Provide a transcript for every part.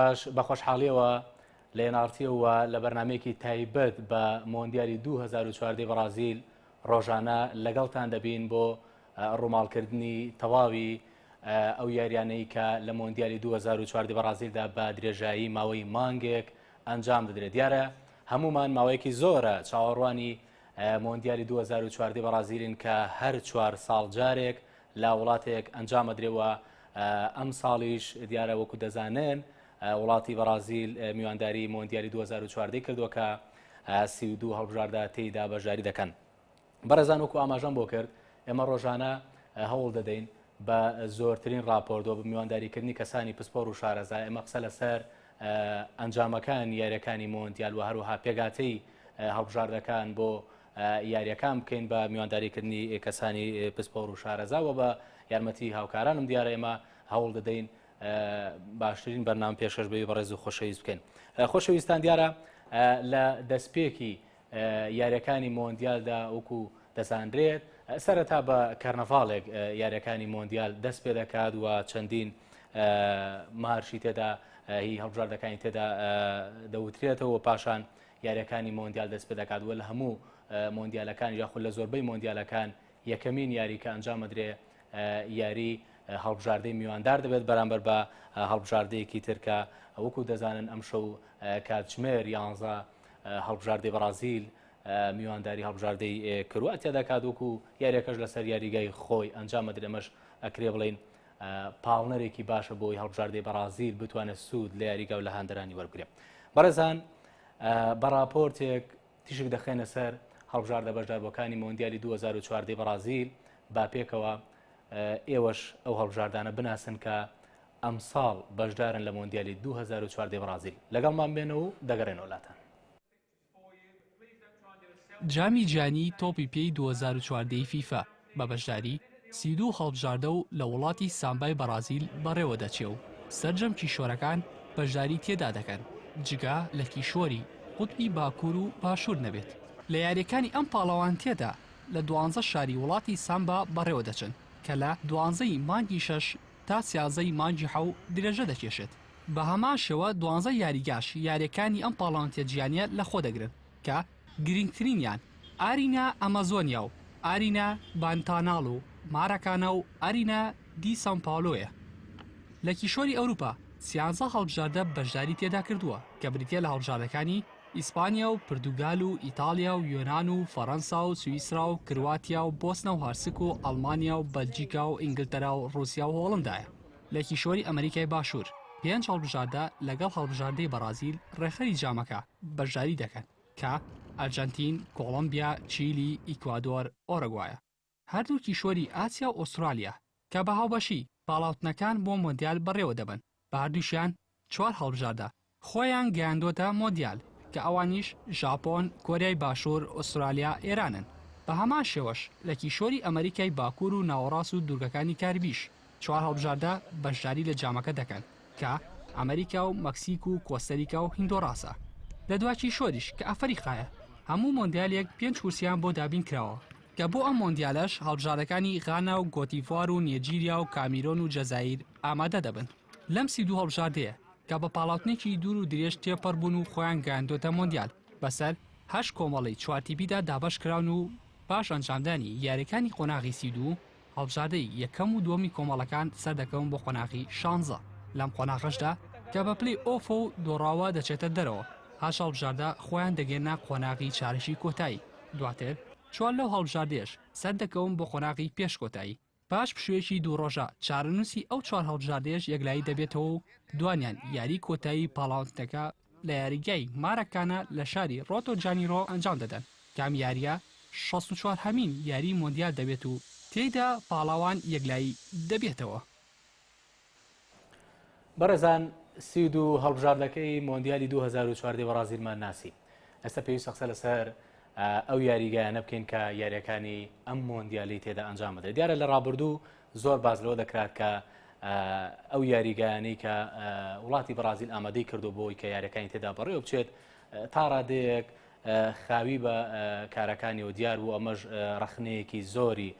پاش بە خۆشحاڵیەوە لە ئێن ئاڕ تی وە لە بەرنامەیەکی تایبەت بە مۆندیالی دوو هەزار و چواردە ی بەڕازیل ڕۆژانە لەگەڵتان دەبین بۆ ڕووماڵکردنی تەواوی ئەو یاریانەی کە لە مۆندیالی دوو هەزار و چواردە ی بەڕازیلدا بە درێژایی ماوەی مانگێک ئەنجام دەدرێت دیارە هەموومان ماوەیەکی زۆرە چاوەڕوانی مۆندیالی دوو هەزار و چواردە ی بەڕازیلین کە هەر چوار ساڵ جارێک لە وڵاتێک ئەنجام ئەدرێ و ئەمساڵیش دیارە وەکو دەزانن وڵاتی بەڕازیل میوانداری مۆندیالی 2014 کردووە کە سی و دوو هەڵبژاردا تێیدا بەشداری دەکەن بەڕێزان وەکو ئاماژەم بۆ کرد ئێمە ڕۆژانە هەوڵ دەدەین بە زۆرترین راپۆردۆ بە میوانداریکردنی کەسانی پسپۆر و شارەزا ئێمە قسە لەسەر ئەنجامەکان یاریەکانی مۆندیال و هەروەها پێگاتەی هەڵبژاردەکان بۆ یاریەکان بکەین بە میوانداری کردنی کەسانی پسپۆر و شارەزا و بە یارمەتی هاوکارانم دیارە ئێمە هەوڵ دەدەین باشترین بەرنام پێشکەش بەوی بەڕێز و خۆشەویست بکەین خۆشەویستان دیارە لە دەستپێکی یاریەکانی مۆندیالدا وەکو دەزانرێت سەرەتا بە کەرنەڤاڵێک یاریەکانی مۆندیال دەست پێ دەکات و چەندین مارشی تێدا هی هەڵبژاردەکانی تێدا دەوترێتەوە پاشان یارییەکانی مۆندیال دەستپێدەکات و لە هەموو مۆندیالەکانیش یاخود لە زۆربەی مۆندیالەکان یەکەمین یاری کە ئەنجامەدرێ یاری هەڵبژاردەی میواندار دەبێت بەرامبەر بە هەڵبژاردەیەکی تر کە وەکو دەزانن ئەم شەو کاتژمێر یانزە هەڵبژاردەی بەڕازیل میوانداری هەڵبژاردەی کرواتیا دەکات وەکو یاریەکەش لەسەر یاریگای خۆی ئەنجامەدرێمەش ئەکرێ بڵین پاڵنەرێکی باشە بۆی هەڵبژاردەی بەڕازیل بتوانێت سوود لە یاریگا و لە هاندەرانی وەرگێ بەڕێزان بە راپۆرتێک تیشک دەخێنە سەر هەڵبژاردە بەشداربەکانی مۆندیالی 2014 بەڕازیل با پێکەوە ئێوەش ئەو هەڵبژاردانە بناسن کە ئەمساڵ بەشدارن لە مۆندیالی 2014 بەڕازیل لەگەڵمان بێنە و دەگەڕێنەوە لاتان جامی جیهانی تۆپی پێی دوو هەزار و چواردە ی فیفا بە بەشداری سی و دوو هەڵبژاردە و لە وڵاتی سامبای بەڕازیل بەڕێوەدەچێ و سەرجەم کیشوەرەکان بەشداری تێدا دەکەن جگە لە کیشوەری قوتبی باکوور و باشوور نەبێت. لە یارییەکانی ئەم پاڵەوانتیەدا لە دوانزە شاری وڵاتی سامبا بەڕێوەدەچن کە لە دوانزە ی مانگی شەش تا سیانزە ی مانگی حەو درێژە دەکێشێت. بە هەمان شێوە دوانزە یاریگاش یارییەکانی ئەم پاڵەوانێتییە جیهانییە لە خۆ دەگرن کە گرینگترینیان ئارینا ئەمازۆنیا و ئارینا بانتانال و ماراکانا و ئارینا دی سان پاولۆیە لە کیشوەری ئەوروپا سیانزە هەڵبژاردە بەشداری تێدا کردووە کە بریتیە لە هەڵبژاردەکانی ئیسپانیا و پردوگال و ئیتاڵیا و یۆنان و فەرەنسا و سویسرا و کرواتیا و بۆسنە و هەرسک و ئەڵمانیا و بەلجیکا و ئینگلتەرا و ڕوسیا و هۆڵندایە. لە کیشوەری ئەمەریکای باشوور، پێنج هەڵبژاردە لەگەڵ هەڵبژاردەی بەڕازیل ڕێکخەری جامەکە بەشداری دەکەن کە، ئەرجەنتین، کۆڵۆمبیا، چیلی، ئیکوادۆر، ئۆرۆگوایە. هەردوو کیشوەری ئاسیا و ئوسترالیا کە بە هاوبەشی پاڵاوتنەکان بۆ مۆندیال بەڕێوەدەبەن، بە هەردووکیان چوار هەڵبژاردە خۆیان گەیاندووەتە مۆندیال کە ئەوانیش ژاپۆن، کۆریای باشوور، ئوسترالیا، ئێرانن. بە هەمان شێوەش لە کیشوەری ئەمەریکای باکوور و ناوەڕاست و دوورگەکانی کاریبیش چوار هەڵبژاردە بەشداری لە جامەکە دەکەن کە، ئەمەریکا و مەکسیک و کۆستەریکا و هیندۆراسە. لە دوا کیشوەریش کە ئەفەریقایە هەموو مۆندیالێک پێنج کورسییان بۆ دابین کراوە، کە بۆ ئەم مۆندیالەش هەڵبژاردەکانی غانا و گۆتیڤوار و نێجیریا و کامیرۆن و جەزائیر ئامادە دەبن. لەم سی و دوو هەڵبژاردەیە کە بە پاڵاوتنێکی دوور و درێژ تێپەڕ بوون و خۆیان گەیاندووەتە مۆندیال، بەسەر هەشت کۆمەڵەی چوار تیپیدا دابەش کراون و پاش ئەنجامدانی یارییەکانی قۆناغی سی و دوو، هەڵبژاردەی یەکەم و دووەمی کۆمەڵەکان سەردەکەون بۆ قۆناغی شانزە. لەم قۆناغەشدا کە بە پلەی ئۆفە و دۆڕاوە دەچێتە دەرەوە، هەشت هەڵبژاردە خۆیان دەگەیەننە قۆناغی چارەکی کۆتایی، دواتر چوار لەو هەڵبژاردەیەش سەردەکەون بۆ قۆناغی پێش کۆتایی. پاش پشوویەکی دوو ڕۆژە، چارەنووسی ئەو چوار هەڵبژاردەیەش یەکلایی دەبێتەوە و دوانیان یاریی کۆتایی پاڵاوتنەکە لە یاریگای ماراکانا لە شاری ڕۆتۆ جانیرۆ ئەنجام دەدەن، کە ئەم یارییە شەست و چوار هەمین یاریی مۆندیال دەبێت و تێیدا پاڵەوان یەکلایی دەبێتەوە. بەڕێزان سی و دوو هەڵبژاردەکەی مۆندیالی 2014 بەڕازیلمان ناسی ئێستا پێویستە قسە لەسەر ئەو یاریگایانە بکەین کە یاریەکانی ئەم مۆندیالی تێدا ئەنجام بدە دیارە لە ڕابردوو زۆر باز لەوە دەکرات کە ئەو یاریگایانی کە وڵاتی بەڕازیل ئامادەی کردو بۆی کە یاریەکانی تێدا بەڕێوە بچێت تا ڕادەیەک خاوی بە کارەکانی و دیار بوو ئەمەش ڕخنەیەکی زۆری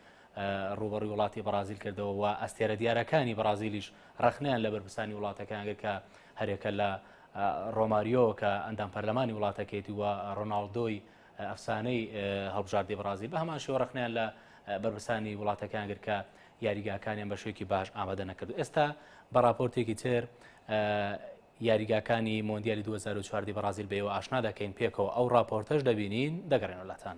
رووبەڕووی وڵاتی بەڕازیل کردەوە و ئەستێرە دیارەکانی بەڕازیلیش رەخنەیان لە بەرپرسانی وڵاتەکەیان گرت کە هەرێکە لە رۆماریۆ کە ئەندام پەرلەمانی وڵاتەکەیتی و رۆناڵدۆی ئەفسانەی هەڵبژاردەی بەڕازیل بە هەمان شێوە رەخنیان لە بەرپرسانی وڵاتەکان گرت کە یاریگاکانیان بە شوێکی باش ئامادە نەکرد ئێستا بە راپۆرتێکی تر یاریگاکانی مۆندیالی 2014 بەڕازیل بەەوە ئاشنا دەکەین پێکەوە ئەو راپۆرتەش دەبینین دەگەڕێنەوەلاتان.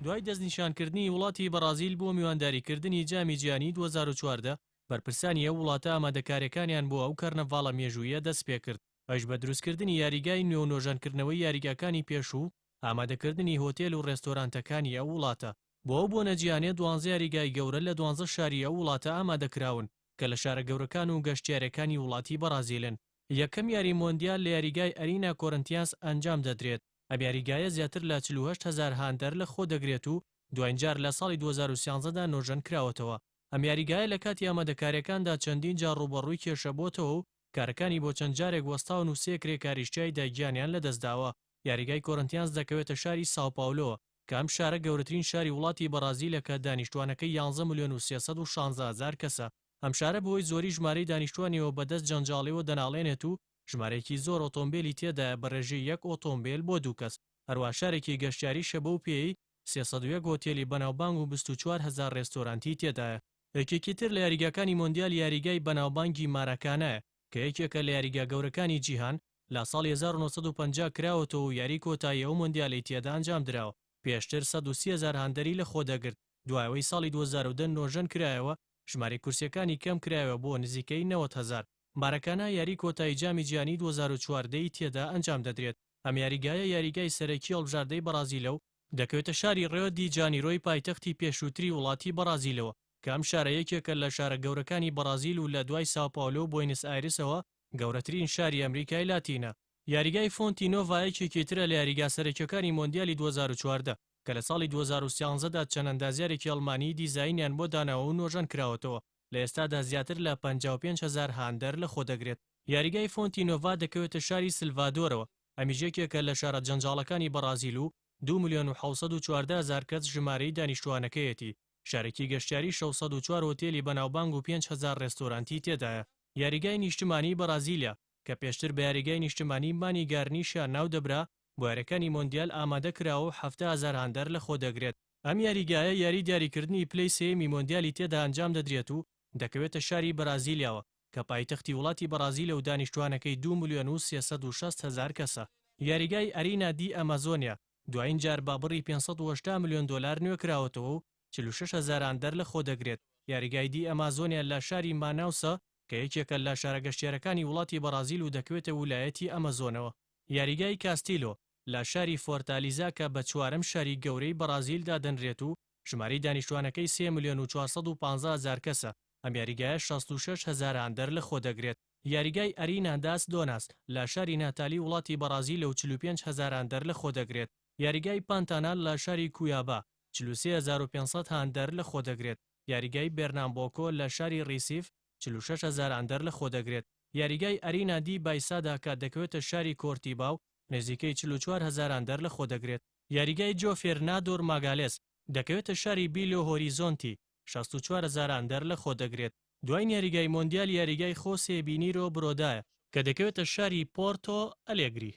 دوای دەستنیشانکردنی وڵاتی بەڕازیل بۆ میوانداریکردنی جامی جیهانیی دوو هەزار و چواردە، بەرپرسانی ئەو وڵاتە ئامادەکارییەکانیان بۆ ئەو کەرنەڤاڵە مێژووییە دەستپێکرد، ئەویش بە دروستکردنی یاریگای نوێ و نۆژەنکردنەوەی یاریگاکانی پێشوو و ئامادەکردنی هۆتێل و رێستۆرانتەکانی ئەو وڵاتە. بۆ ئەو بۆنە جیهانییە دوانزە یاریگای گەورە لە دوانزە شاری ئەو وڵاتە ئامادەکراون کە لە شارە گەورەکان و گەشتیارەکانی وڵاتی بەڕازیلن. یەکەم یاری مۆندیال لە یاریگای ئەرینا کۆرنتیانس ئەنجام دەدرێت، ئەم یاریگایە زیاتر لە چل و هەشت هەزار هاندەر لە خۆ دەگرێت و دواین جار لە ساڵی دوو هەزار و سیانزە دا نۆژەن کراوەتەوە، ئەم یاریگایە لە کاتی ئامادەکاریەکاندا چەندین جار ڕووبەڕووی کێشە بۆتەوە و کارەکانی بۆ چەند جارێک وەستاون و سێ کرێکاریش تیایدا گیانیان لەدەستداوە، یاریگای کۆرنتیانس دەکەوێتە شاری ساو پاولۆ، کە ئەم شارە گەورەترین شاری وڵاتی بەڕازیلە کە دانیشتوانەکەی یانزە ملیۆن و سێ سەد و شانزە هەزار کەسە، ئەم شارە بەهۆی زۆری ژمارەی دانیشتووانیەوە بە دەست جەنجاڵیەوە دەناڵێنێت و ژمارەیەکی زۆر ئۆتۆمبێلی تێدایە بە ڕێژەی یەک ئۆتۆمبێل بۆ دوو کەس، هەروەها شارێکی گەشتیاریشە بەو پێیەی سێ سەد و یەک هۆتێلی بەناوبانگ و بیست و چوار هەزار ڕێستۆرانتی تێدایە. یەکێکی تر لە یاریگاکانی مۆندیال یاریگای بەناوبانگی ماراکانایە کە یەکێکە لە یاریگا گەورەکانی جیهان، لە ساڵی هەزار و نۆ سەد و پەنجا کراوەتەوە و یاری کۆتایی ئەو مۆندیالەی تێدا ئەنجامدراوە، پێشتر سەد و سی هەزار هاندەری لەخۆدەگرت. دوای ئەوەی ساڵی دوو هەزار و دە نۆژەن کرایەوە، ژمارەی کورسییەکانی کەم کرایەوە بۆ نزیکەی نەوەد هەزار. ماراکانا یاریی کۆتایی جامی جیهانیی دوو هەزار و چواردە ی تێدا ئەنجام دەدرێت، ئەم یاریگایە یاریگای سەرەکیی هەڵبژاردەی بەڕازیلە و، دەکەوێتە شاری ڕیۆ دی جانیرۆی پایتەختی پێشووتری وڵاتی بەڕازیلەوە، کە ئەم شارە یەکێکە لە شارە گەورەکانی بەڕازیل و لە دوای ساو پاولۆ و بۆینس ئایرسەوە گەورەترین شاری ئەمریکای لاتینە. یاریگای فۆنتی نۆڤا یەکێکی ترە لە یاریگا سەرەکییەکانی مۆندیالی دوو هەزار و چواردە، کە لە ساڵی دوو هەزار و سیانزە دا چەند ئەندازیارێکی ئەڵمانی دیزاینیان بۆ داناوە و نۆژەن کراوەتەوە، لە ئێستادا زیاتر لە پەنجا و پێنج هەزار هاندەر لە خۆ دەگرێت. یاریگای فۆنتی نۆڤا دەکەوێتە شاری سلڤادۆرەوە، ئەمیش یەکێکە لە شارە جەنجاڵەکانی بەڕازیل و دوو ملیۆن و حەوت سەد و چواردە هەزار کەس ژمارەی دانیشتووانەکەیەتی، شارێکی گەشتیاری شەش سەد و چوار هۆتێلی بەناوبانگ و پێنج هەزار ڕێستۆرانتی تێدایە. یاریگای نیشتمانیی بەڕازیلە، کە پێشتر بە یاریگای نیشتمانیی مانی گارنیشا ناو دەبرا، بۆیارەکانی مۆندیال ئامادەکراوە و حەفتا هەزار هاندەر لەخۆدەگرێت. ئەم یاریگایە یاری دیاریکردنی پلەی سێیەمی مۆندیالی تێدا ئەنجامدەدرێت و دەکەوێتە شاری بەرازیلیاوە کە پایتەختی وڵاتی بەڕازیلە و دانیشتووانەکەی دوو ملیۆن و سێ سەد و شەست هەزار کەسە. یاریگای ئەرینا دی ئەمازۆنیا دوایین جار بە بڕی پێنج سەد و هەشتا ملیۆن دۆلار نوێکراوەتەوە و چل و شەش هەزار هاندەر لەخۆدەگرێت. یاریگای دی ئەمازۆنیا لە شاری ماناوسە کە یەکێکە لە شارە گەشتیارەکانی وڵاتی بەڕازیل و دەکەوێتە ولایەتی ئەمەزۆنەوە. یاریگای کاستیلۆ لە شاری فۆرتالیزا کە بە چوارەم شاری گەورەی بەڕازیل دادەنرێت و ژمارەی دانیشتوانەکەی سێ ملیۆن و چوار سەد و پازدە هەزار کەسە، ئەم یاریگایە شەست و شەش هەزار هاندەر لەخۆدەگرێت. یاریگای ئەرینا داس دۆناس لە شاری ناتالی وڵاتی بەڕازیلە و چل و پێنج هەزار هاندەر لەخۆدەگرێت. یاریگای پانتانال لە شاری کویابا چل و سێ هەزار و پێنج سەد هاندەر لەخۆدەگرێت. یاریگای بێرنامبۆکۆ لە شاری ڕیسیف چل و شەش هەزار ئەندەر لە خۆ دەگرێت. یاریگای ئەرینا دی بایسادا کە دەکەوێتە شاری کۆرتیبا و نزیکەی چل و چوار هەزار ئەندەر لە خۆ دەگرێت. یاریگای جۆفێرنادۆر ماگالێس دەکەوێتە شاری بیلۆ هۆریزۆنتی، شەست و چوار هەزار ئەندەر لە خۆ دەگرێت. دواین یاریگای مۆندیال یاریگای خۆسێ بینیرۆ برۆدایە کە دەکەوێتە شاری پۆرتۆ ئەلێگری،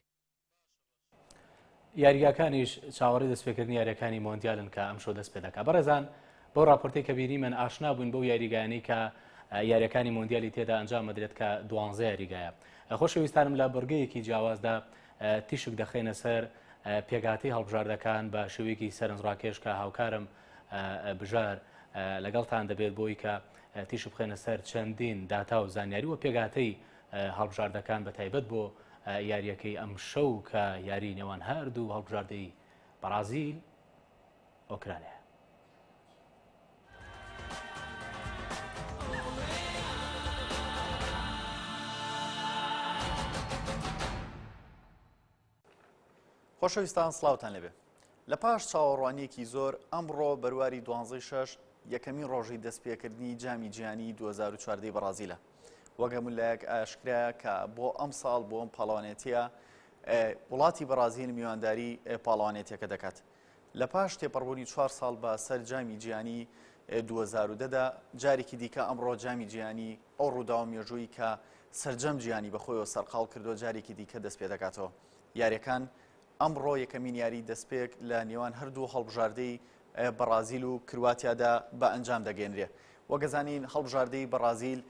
یاریگاکانیش چاوەڕی دەستپێکردنی یاریەکانی مۆندیالن کە ئەم شۆ دەست پێ دەکا بەڕێزان بۆ راپۆرتی کە بینیمەن ئاشنا بووین بەو یاریگایانی کە یاریەکانی مۆندیالی تێدا ئەنجام مەدرێت کە دوانزە یاریگایە خۆشەویستانم لە بڕگەیەکی جیاوازدا تیشک دەخینە سەر پێگاتی هەڵبژاردەکان بە شێوەیەکی سەرنجڕاکێش کە هاوکارم بژار لەگەڵتان دەبێت بۆی کە تیش بخێنە سەر چەندین داتا و زانیاری و پێگاتەی هەڵبژاردەکان بەتایبەت بۆ یارییەکەی ئەمشەو کە یاری نێوان هەردوو هەڵبژاردەی بەڕازیل ئۆکرانیا خۆشەویستان سڵاوتان لەبێ لە پاش چاوەڕوانیەکی زۆر ئەمڕۆ بەرواری دوانزەی شەش یەکەمی ڕۆژی دەستپێکردنی جامی جیانی 2014 بەڕازیلە وەگەملایەک ئاشکرایە کە بۆ ئەم ساڵ بۆ ئەم پاڵەوانێتیە وڵاتی بەڕازیل میوانداری پاڵەوانێتەکە دەکات لە پاش تێپەڕبوونی چوار ساڵ بە سەر جامی جیانی 2010دا جارێکی دیکە ئەمڕۆ جامی جیانی ئەو ڕووداوە مێژوویی کە سەرجەم جیهانی بە خۆیەوە سەرقاڵ کردووە جارێکی دیکە دەست پێ دەکاتەوە. یارییەکان ئەمڕۆ یەکەمین یاریی دەستپێک لە نێوان هەردوو هەڵبژاردەی بەڕازیل و کرواتیادا بە ئەنجام دەگەێنرێ. وەگەزانین هەڵبژاردەی بەڕازیل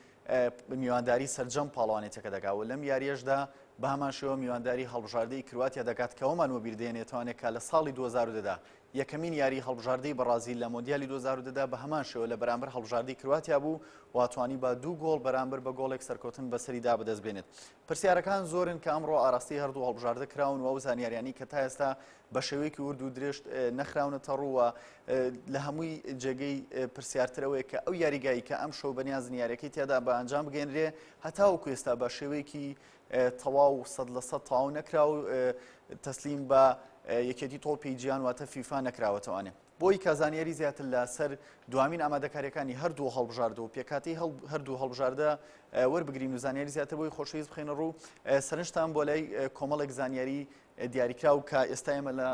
میوانداری سەرجەم پاڵەوانێتەکە دەکات و لەم یاریەشدا بە هەمانشەوە میوانداری هەڵبژاردەی کرواتیا دەکات کەەوەمان وەبیردێنێتوانێت کە لە ساڵی 2010دا یەکەمین یاریی هەڵبژاردەی بەڕازیل لە مۆندیالی دوو هەزار و دە دا بە هەمان شێوە لە بەرامبەر هەڵبژاردەی کرواتیا بوو و توانیبا دوو گۆڵ بەرامبەر بە گۆڵێک سەرکەوتن بەسەریدا بەدەست بێنێت. پرسیارەکان زۆرن کە ئەمڕۆ ئاراستەی هەردوو هەڵبژاردە کراون و ئەو زانیاریانەی کە تا ئێستا بە شێوەیەکی ورد و درێژ نەخراونەتە ڕوو و لە هەمووی جێگەی پرسیارتر ئەوەیە کە ئەو یاریگایی کە ئەمشەو بەنیازن یاریەکەی تیادا بە ئەنجام بگەێنرێ هەتاوەکو ئێستا بە شێوەیەکی تەواو سەد لە سەد تەواو نەکرا و تەسلیم بە یەکێتی تۆپی جیان واتە فیفا نەکراوەتەوانێ بۆی کازانیاری زیاتر لە سەر دوامین ئامادەکاریەکانی هەردوو هەڵبژارد و پێکاتی هەردوو هەڵبژاردە وەربگرین و زانیاری زیاتر بۆی خۆشەویست بخێنە ڕوو سەرنجتان بۆ لای کۆمەڵێک زانیاری دیاریکراو کە ئێستا ئێمە لە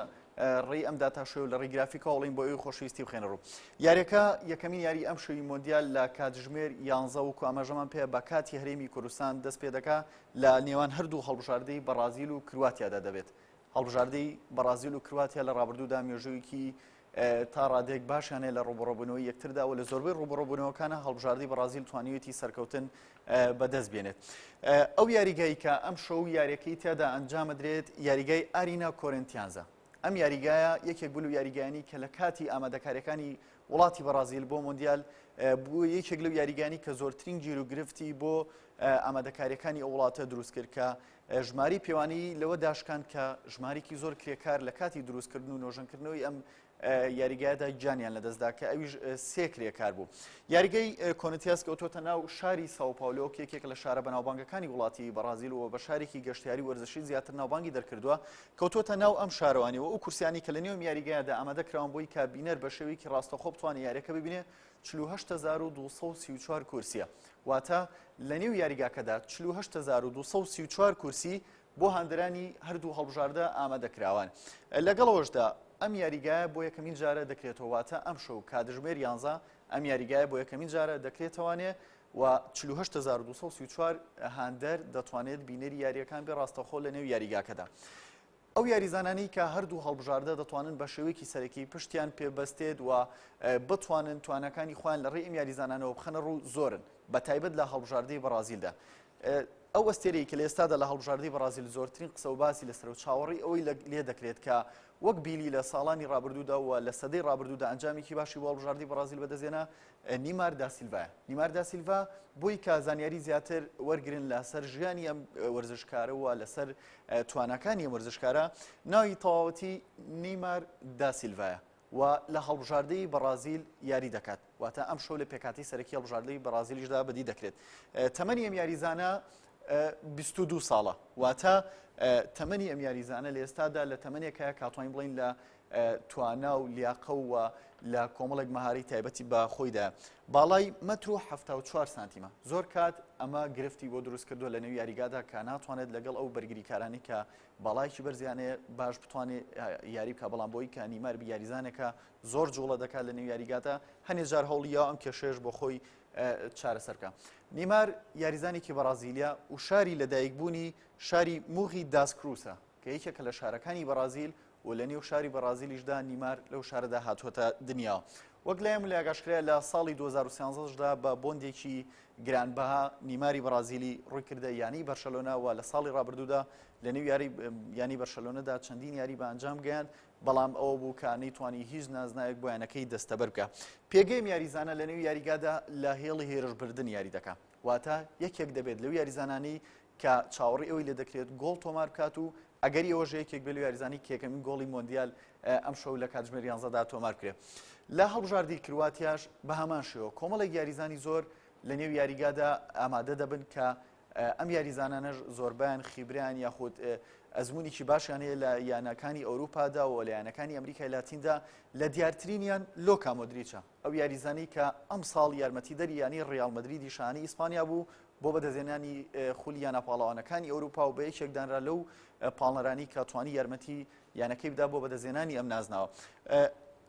ڕێی ئەم داتاشۆی و لە ڕێی گرافیکە هەوڵین بۆ ئەوی خۆشویستی بخێنە ڕوو یاریەکە یەکەمین یاری ئەم شوی مۆندیال لە کاتژمێر یانزە و کوامەژەمان پێ بە کاتی هەرێمی کوردستان دەست پێ دەکا لە نێوان هەردوو هەڵبژاردەی بەڕازیل و کرواتیادا دەبێت هەڵبژاردەی بەڕازیل و کرواتیا لە ڕابردوودا مێژوویکی تا ڕادەیەک باشیانەیە لە ڕوبڕۆبوونەوەی یەکتردا و لە زۆربەی ڕوبڕۆبوونەوەکانە هەڵبژاردی بەڕازیل توانیویەتی سەرکەوتن بەدەست بێنێت ئەو یاریگای کە ئەم شەو یاریەکەی تیادا ئەنجامدرێت یاریگای ئارینا کۆرنتیانزە ئەم یاریگایە یەکێک بلو یاریگانی کە لە کاتی ئامادەکاریەکانی وڵاتی بەڕازیل بۆ مۆندیال بۆ یەکێک لەو یاریگانی کە زۆرترین گیر و گرفتی بۆ ئامادەکاریەکانی ئەو وڵاتە دروست کرد کە ژمارەی پێوانی لەوە داشکاند کە ژمارێکی زۆر کرێکار لە کاتی دروستکردن و نۆژەنکردنەوەی ئەم یاریگایدا گیانیان لەدەستدا کە ئەویش سێ کرێکار بوو یاریگەی کۆنتیاس کەوتۆتە ناو شاری ساوپاولۆ کێکێک لە شارە بەناوبانگەکانی وڵاتی بەڕازیل و بە شارێکی گەشتیاری وەرزشی زیاتر ناوبانگی دەرکردووە کەوتۆتە ناو ئەم شارەوانی و ئەو کورسیانی کە لە نێو یاریگایدا ئامادە کراون بۆی کابینەر بە شێوەیەکی ڕاستەخۆ بتوانێت یاریەکە ببینێ چل و هەشت هەزار و دوو سەد و سی و چوار کورسییە، واتە لەنێو یاریگاکەدا چل و هەشت هەزار و دوو سەد و سی و چوار کورسی بۆ هاندەرانی هەردوو هەڵبژاردە ئامادەکراوان. لەگەڵ ئەوەشدا ئەم یاریگایە بۆ یەکەمین جارە دەکرێتەوە، واتە ئەمشەو کاتژمێر یانزە ئەم یاریگایە بۆ یەکەمین جارە دەکرێتەوانێ و چل و هەشت هەزار و دوو سەد و سی و چوار هاندەر دەتوانێت بینەری یارییەکان بێ ڕاستەخۆ لەنێو یاریگاکەدا. ئەو یاریزانانەی کە هەردوو هەڵبژاردە دەتوانن بە شێوەیەکی سەرەکی پشتیان پێ بەستێت و بتوانن توانەکانی خۆیان لە ڕێی ئەم یاریزانانەوە بخەنە ڕوو زۆرن بە تایبەت لە هەڵبژاردەی بەڕازیلدا ئەو ئەستێرەی کە لە ئێستادا لە هەڵبژاردەی بەڕازیل زۆرترین قسە و باسی لەسەر و چاوەڕی ئەوەی لێ دەکرێت کە وەک بیلی لە ساڵانی ڕابردوودا و لە سەدەی ڕابردوودا ئەنجامێکی باشی بۆ هەڵبژاردی بەڕازیل بەدەزێنا نیمار داسیلڤایە نیمار داسیلڤا بۆی کە زانیاری زیاتر وەرگن لەسەر ژیانی ئەم وەرزشکارە و لەسەر توانەکانی وەرزشکارە ناوی تەواوەتی نیمار داسیلڤایە و لە هەڵبژاردەی بەڕازیل یاری دەکات واتە ئەم شەو لە پێکاتی سەرەکی هەڵبژاردەی بەڕازیلیشدا بەدی دەکرێت تەمەنی ئەم یاریزانە 22 ساڵە واتە تەمەنی ئەم یاریزانە لە ئێستادا لە تەمەنێکە کاتوانین بڵین لە توانا و لیاقە و لە کۆمەڵێک مەهارەی تایبەتی بە خۆیدا باڵای مەتر و هەفتا و چوار سانتیمە زۆر کات ئەمە گرفتی بۆ دروست کردووە لە نێو یاریگادا کە ناتوانێت لەگەڵ ئەو بەرگریکارانی کە باڵایکی بەرزیانێ باش بتوانێت یاری بکە بەڵام بۆی کە نیمار بیاریزانەکە زۆر جوڵە دەکات لە نێو یاریگاتە هەنێ جار هەوڵیەوە ئەم کێشێش بۆ خۆی چارەسەرکە نیمار یاریزانێکی بەڕازیلیا و شاری لەدایکبوونی شاری موغی داسکروسە کە یەکێکە لە شارەکانی بەڕازیل و لە نێو شاری بەڕازیلیشدا نیمار لەو شارەدا هاتووەتە دنیا وەک لای ملی ئاگاشکرا لە ساڵی 2013دا بە بۆندێکی گرانبەها نیماری بەڕازیلی ڕووی کردە یانی بەرشەلۆنا و لە ساڵی ڕابردوودا لە نێو یاری ینی بەرشەلۆنەدا چەندین یاری بە ئەنجام گەیان بەڵام ئەوە بوو کە نەیتوانی هیچ نازناوێک بۆیانەکەی دەستەبەر بکە پێگەیم یاریزانە لە نێو یاریگادا لە هێڵی هێرشبردن یاری دەکە واتە یەکێک دەبێت لەو یاریزانانی کە چاوەڕێی ئەوەی لێ دەکرێت گۆڵ تۆمار بکات و ئەگەری ئەوەش هەیە کە یەکێک بێت لە یاریزانانی کە یەکەمین گۆڵی مۆندیال ئەمشەو لە کاتژمێر یانزەدا تۆمار بکرێت لە هەڵبژاردەی کرواتیاش بە هەمان شێوە کۆمەڵێک یاریزانی زۆر لە نێو یاریگادا ئامادە دەبن کە ئەم یاریزانانەش زۆربیان خیبریان یاخود ئەزمونێکی باشیان هەیە لە یانەکانی ئەوروپادا و لە یانەکانی ئەمریکای لاتیندا لە دیارترینیان لۆکا مۆدریچە ئەو یاریزانی کە ئەم ساڵ یارمەتیدەری ینی ڕیال مدریدی شانەی ئیسپانیا بوو بۆ بەدەستهێنانی خولی یانە پاڵەوانەکانی ئەوروپا و بە یەکێک دانرا لەو پاڵنەرانی کە توانی یارمەتی یانەکەی بدا بۆ بەدەستێنانی ئەم نازناوە.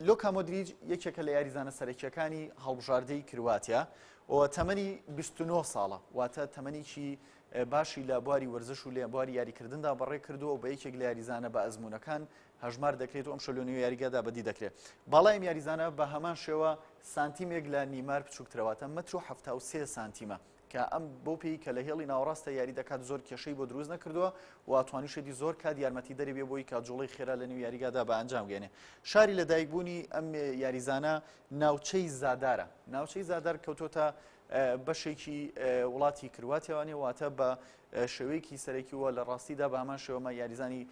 لۆکا مۆدریج یەکێکە لە یاریزانە سەرەکیەکانی هەڵبژاردەی کرواتیا و تەمەنی 29 ساڵە واتە تەمەنیی باشی لە بواری وەرزش و لە بواری یاریکردندا بەڕێ کردووە و بە یەکێک لە یاریزانە بە ئەزمونونەکان هەژمار دەکرێت و ئەمشەو لە نێو یاریگادا بەدی دەکرێت باڵای ئەم یاریزانە بە هەمان شێوە سانتیمێک لە نیمار بچووکترەواتە مەتر و هەفتا و سێ سانتیمە کە ئەم بۆ پێی کە لە هێڵی ناوەڕاستە یاری دەکات زۆر کێشەی بۆ دروست نەکردووە و توانیشێتی زۆر کات یارمەتی دەری بێ بۆی کاتجوڵی خێرا لە نێو یاریگادا بە ئەنجام گەێنێ شاری لە دایکبوونی ئەم یاریزانە ناوچەی زادارە ناوچەی زادار کەوتۆتە بەشێکی وڵاتی کرواتیاوانێ واتە بە شێوەیەکی سەرەکیوە لە ڕاستیدا بە هەمان شێوەمە یاریزانی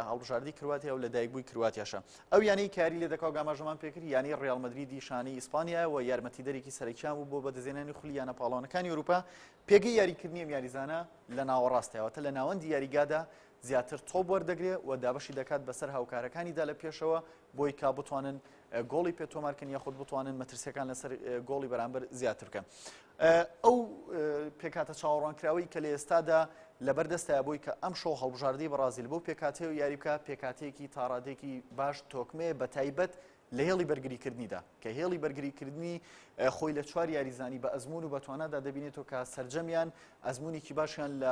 هەڵبژاردەی کرواتیا و لە دایکبووی کرواتیاشە ئەو یانەی کاری لێ دەکاو گاماژەمان پێکرد یانەی ڕیال مەدریدی شانەی ئیسپانیا و یارمەتیدەرێکی سەرەکیان بوو بۆ بەدەستهێنانی خولی یانە پاڵەوانەکانی ئەوروپا پێگەی یاریکردنی ئەم یاریزانە لە ناوەڕاستەوەتە لە ناوەندی یاریگادا زیاتر تۆپ وەردەگرێ و دابەشی دەکات بەسەر هاوکارەکانیدا لە پێشەوە بۆی کە بتوانن گۆڵی پێ تۆمارکەن یاخود بتوانن مەترسیەکان لەسەر گۆڵی بەرامبەر زیاتر بکەن ئەو پێکاتە چاوەڕوانکراوی کە لە ئێستادا لەبەر دەستە بۆی کە ئەم شەو هەڵبژاردی بەڕازیل بۆ پێکاتەیە و یاریبکە پێکاتەیەکی تاڕادێکی باش تۆکمێ بە تایبەت لە هێڵی بەرگریکردنیدا کە هێڵی بەرگریکردنی خۆی لە چوار یاریزانی بە ئەزمون و بەتوانادا دەبینێتەوە کە سرجەمیان ئەزمونێکی باشیان لە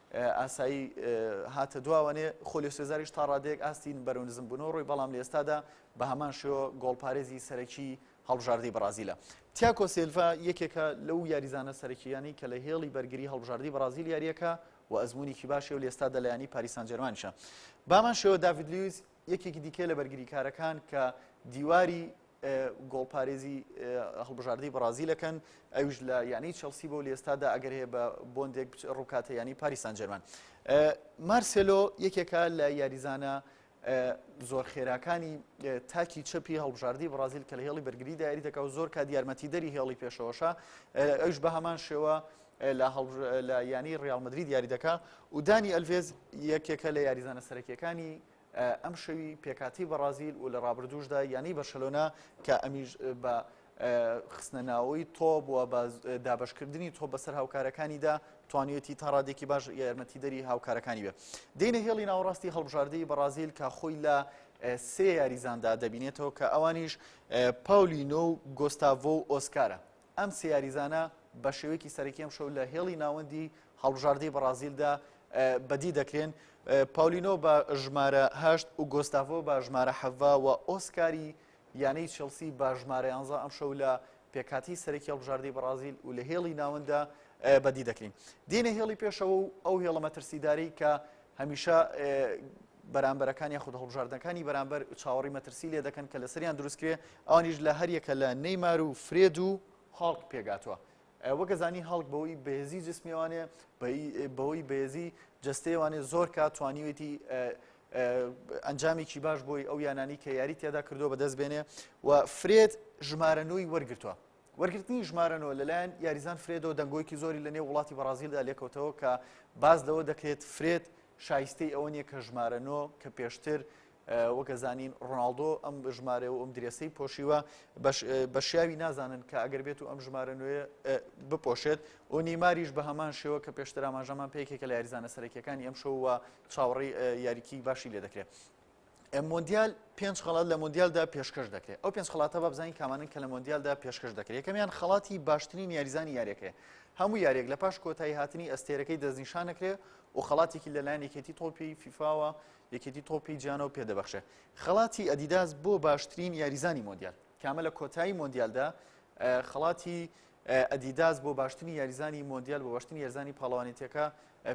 ئاسایی هاتە دوا وانێ خۆلیۆ سێزاریش تا ڕادەیەک ئاستی بەرەو نزمبوونەوە ڕۆی بەڵام لە ئێستادا بە هەمان شێوە گۆڵپارێزی سەرەکی هەڵبژاردەی بەڕازیلە تیاکۆ سێلڤا یەکێکە لەو یاریزانە سەرەکییانی کە لە هێڵی بەرگری هەڵبژاردەی بەڕازیل یاریەکە و ئەزمونێکی باشی و لێستا دەلایانی پاریسان جەرمانشە بامان شێوە داوید لویز یەکێکی دیکە لە بەرگریکارەکان کە دیواری گۆڵپارێزی هەڵبژاردەی بەڕازیلەکەن ئەوش لە یانەی چەلسی بۆ لێستادا ئەگەر هەیە بە بۆندێک ڕووکاتە ینی پاریسان جەرمان مارسلۆ یەکێکە لە یاریزانە زۆر خێراکانی تاکی چەپی هەڵبژاردی بڕازیل کە لە هێڵی بەرگری دایری دەکە و زۆر کا دیارمەتی دەری هێڵی پێشەوەشە ئەوش بە هەمان شێوە لە یانەی ڕیاڵ مەدرید یاری دەکا و دانی ئەلڤێز یەکێکە لە یاریزانە سەرەکیەکانی ئەم شەوی پێکاتی بەڕازیل و لە ڕابردوشدا یانەی بەرشەلۆنا کە ئەمیش بە خستنە ناوەی تۆب و بە دابشکردنی تۆ بەسەر هاوکارەکانیدا توانیەتی تا ڕادێکی باش یارمەتی دەری هاوکارەکانی بێت دینە هێڵی ناوەڕاستی هەڵبژاردەی بەڕازیل کە خۆی لە سێ یاریزاندا دەبینێتەوە کە ئەوانیش پاولینۆ و گۆستاڤۆ و ئۆسکارە ئەم سێ یاریزانە بە شێوەیەکی سەرەکی ئەمشەو لە هێڵی ناوەندی هەڵبژاردەی بەڕازیلدا بەدی دەکرێن پاولینۆ بە ژمارە هەشت و گۆستاڤۆ بە ژمارە حەڤە و ئۆسکاری یانەی چلسی بە ژمارە یانزە ئەمشەو لە پێکاتی سەرەکی هەڵبژاردەی بەڕازیل و لە هێڵی ناوەندە بەدی دەکرین دینە هێڵی پێشەوە و ئەو هێڵە مەترسیداری کە هەمیشە بەرامبەرەکان یاخود هەڵبژاردنەکانی بەرامبەر چاوەڕی مەترسی لێ دەکەن کە لەسەریان دروستکرێ ئەوانیش لە هەریەکە لە نەیمار و فرێد و هاڵک پێگاتوە وەگەزانی هەڵک بەوەی بەهێزی جسمیوانێ بەوەی بەهێزی جستەیەوانێ زۆر کا توانیوێتی ئەنجامێکی باش بۆی ئەو یانانی کە یاری تێدا کردو بەدەست بێنێ و فرێت ژمارە نوی وەرگتووە وەرگرتنی ژمارە نۆ لەلایەن یاریزان فرێدۆ دەنگۆیکی زۆری لە نێو وڵاتی بەڕازیلدا لێکەوتەوە کە باز لەوە دەکرێت فرێت شایستەی ئەوە نیە کە ژمارە نۆ کە پێشتر وەگەزانین ڕۆناالدۆ ئەم ژمارە و ئەم درێسەی پۆشیوە بەشیاوی نازانن کە ئەگەر بێت و ئەم ژمارە نوێ بپۆشێت و نیماریش بە هەمان شێوە کە پێشتراماژەمان پێکێکە لە یاریزانە سەرەکیەکانی ئەم شەوە چاوەڕی یاریکی باشی لێ دەکرێت مۆندیال پێنج خڵات لە مۆندیالدا پێشکەش دەکرێت ئەو پێنج خڵاتە بە بزانین کامانن کە لە مۆندیالدا پێشکەش دەکرێت یەکەمیان خڵاتی باشترین یاریزانی یاریەکەی هەموو یاریێک لە پاش کۆتایی هاتنی ئەستێرەکەی دەستنیشانەکرێ و خڵاتێکی لەلایەن یەکێتی تۆپی فیفاوە یەکێتی تۆپی جیانەوە پێدەبخشێ خڵاتی ئەدیداس بۆ باشترین یاریزانی مۆندیال کامە لە کۆتایی مۆندیالدا خڵاتی ئەدیداس بۆ باشترین یاریزانی مۆندیال بۆ باشترین یاریزانی پاڵەوانێتیەکە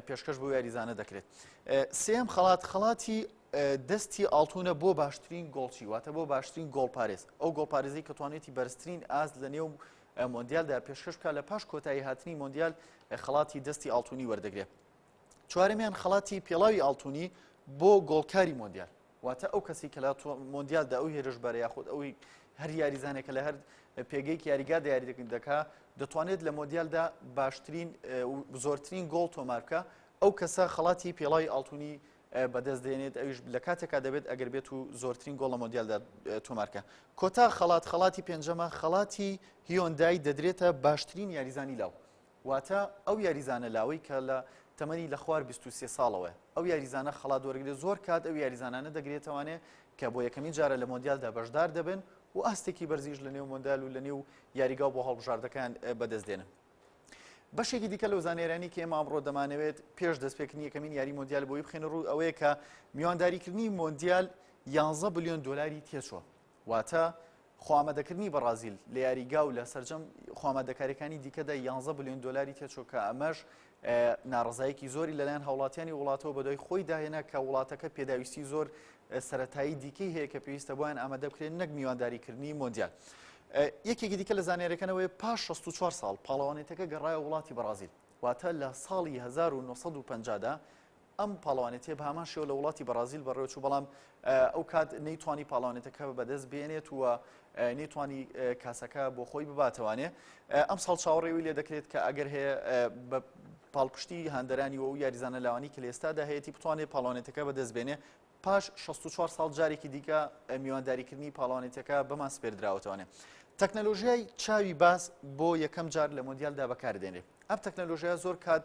پێشکەش بۆ یاریزانە دەکرێت سێم خەڵات خەڵاتی دەستی ئاڵتونە بۆ باشترین گۆڵچی واتە بۆ باشترین گۆڵپارێز ئەو گۆڵپارێزی کە توانێتی بەرزترین ئاست لە نێو مۆندیالدا پێشکەش بکە لە پاش کۆتایی هاتنی مۆندیال خەڵاتی دەستی ئاڵتونی وەردەگرێت چوارەمیان خەڵاتی پێڵاوی ئاڵتونی بۆ گۆڵکاری مۆندیال واتە ئەو کەسی کە لە مۆندیالدا ئەو هێرشبەرە یاخود ئەوی هەر یاریزانێکە لە هەر پێگەیەکی یاریگادا یاری دەکەن دەکا دەتوانێت لە مۆندیالدا باشترین زۆرترین گۆڵ تۆمارکە ئەو کەسە خەڵاتی پێڵای ئاڵتونی بەدەست دێنێت ئەوش لە کاتێکا دەبێت ئەگەر بێت و زۆرترین گۆڵە مۆندیالدا تۆمارکە کۆتا خەڵات خەڵاتی پێنجەمە خەڵاتی هیۆندای دەدرێتە باشترین یاریزانی لاو واتە ئەو یاریزانە لاوەی کە لە تەمەنی لە خوار بیست و سێ ساڵەوەیە ئەو یاریزانە خەڵات وەرگێ زۆر کات ئەو یاریزانانە دەگرێتەوانێ کە بۆ یەکەمین جارە لە مۆندیالدا بەشدار دەبن و ئاستێکی بەرزیش لە نێو مۆندال و لە نێو یاریگا بۆ هەڵبژاردەکان بەدەست دێنن بەشێکی دیکە لەو زانێرانی کە ئێمە ئەمڕۆ دەمانەوێت پێش دەستپێکنی یەکەمین یاری مۆندیال بۆی بخێن ڕوو ئەوەیە کە میوانداریکردنی مۆندیال 11 بلیۆن دلاری تێچوە واتە خوامادەکردنی بەڕازیل لە یاریگا و لە سەرجەم خوامادەکاریەکانی دیکەدا یانزە بلیۆن دۆلاری تێچوو کە ئەمەش ناڕزایەکی زۆری لەلایەن هاوڵاتیانی وڵاتەوە بەدوای خۆی داهێنا کە وڵاتەکە پێداویستی زۆر سەتایی دیکەی هەیە کە پێویستە بۆیان ئامادە بکرێن نەک میوانداریکردنی مۆندیال. یەکێکی دیکە لە زانێرەکەنەوەی پاش 64 ساڵ پاڵەوانێتەکە گەڕایە وڵاتی بەڕازیل واتە لە ساڵی 1950دا ئەم پاڵەوانێتییە بە هەمان شێوە لە وڵاتی بەڕازیل بەڕێوەچوو، بەڵام ئەو کات نەیتوانی پاڵەوانێتەکە بەدەست بێنێت و نەیتوانی کاسەکە بۆ خۆی بباتەوانێ. ئەم ساڵ چاوەڕێی وی لێ دەکرێت کە ئەگەر هەیە بە پاڵپشتی هاندەرانی و یاریزانە لاوانی کە لە ئێستادا هەیەی بتوانێت پاڵەوانێتەکە بەدەست بێنێ. پاش شەست و چوار ساڵ جارێکی دیکە میوانداریکردنی پاڵەوانێتیەکە بەمان سپێردراوەتەوانێ تەکنەلۆژیای چاوی باز بۆ یەکەم جار لە مۆندیالدا بەکاردێنێ ئەم تەکنەلۆژیا زۆر کات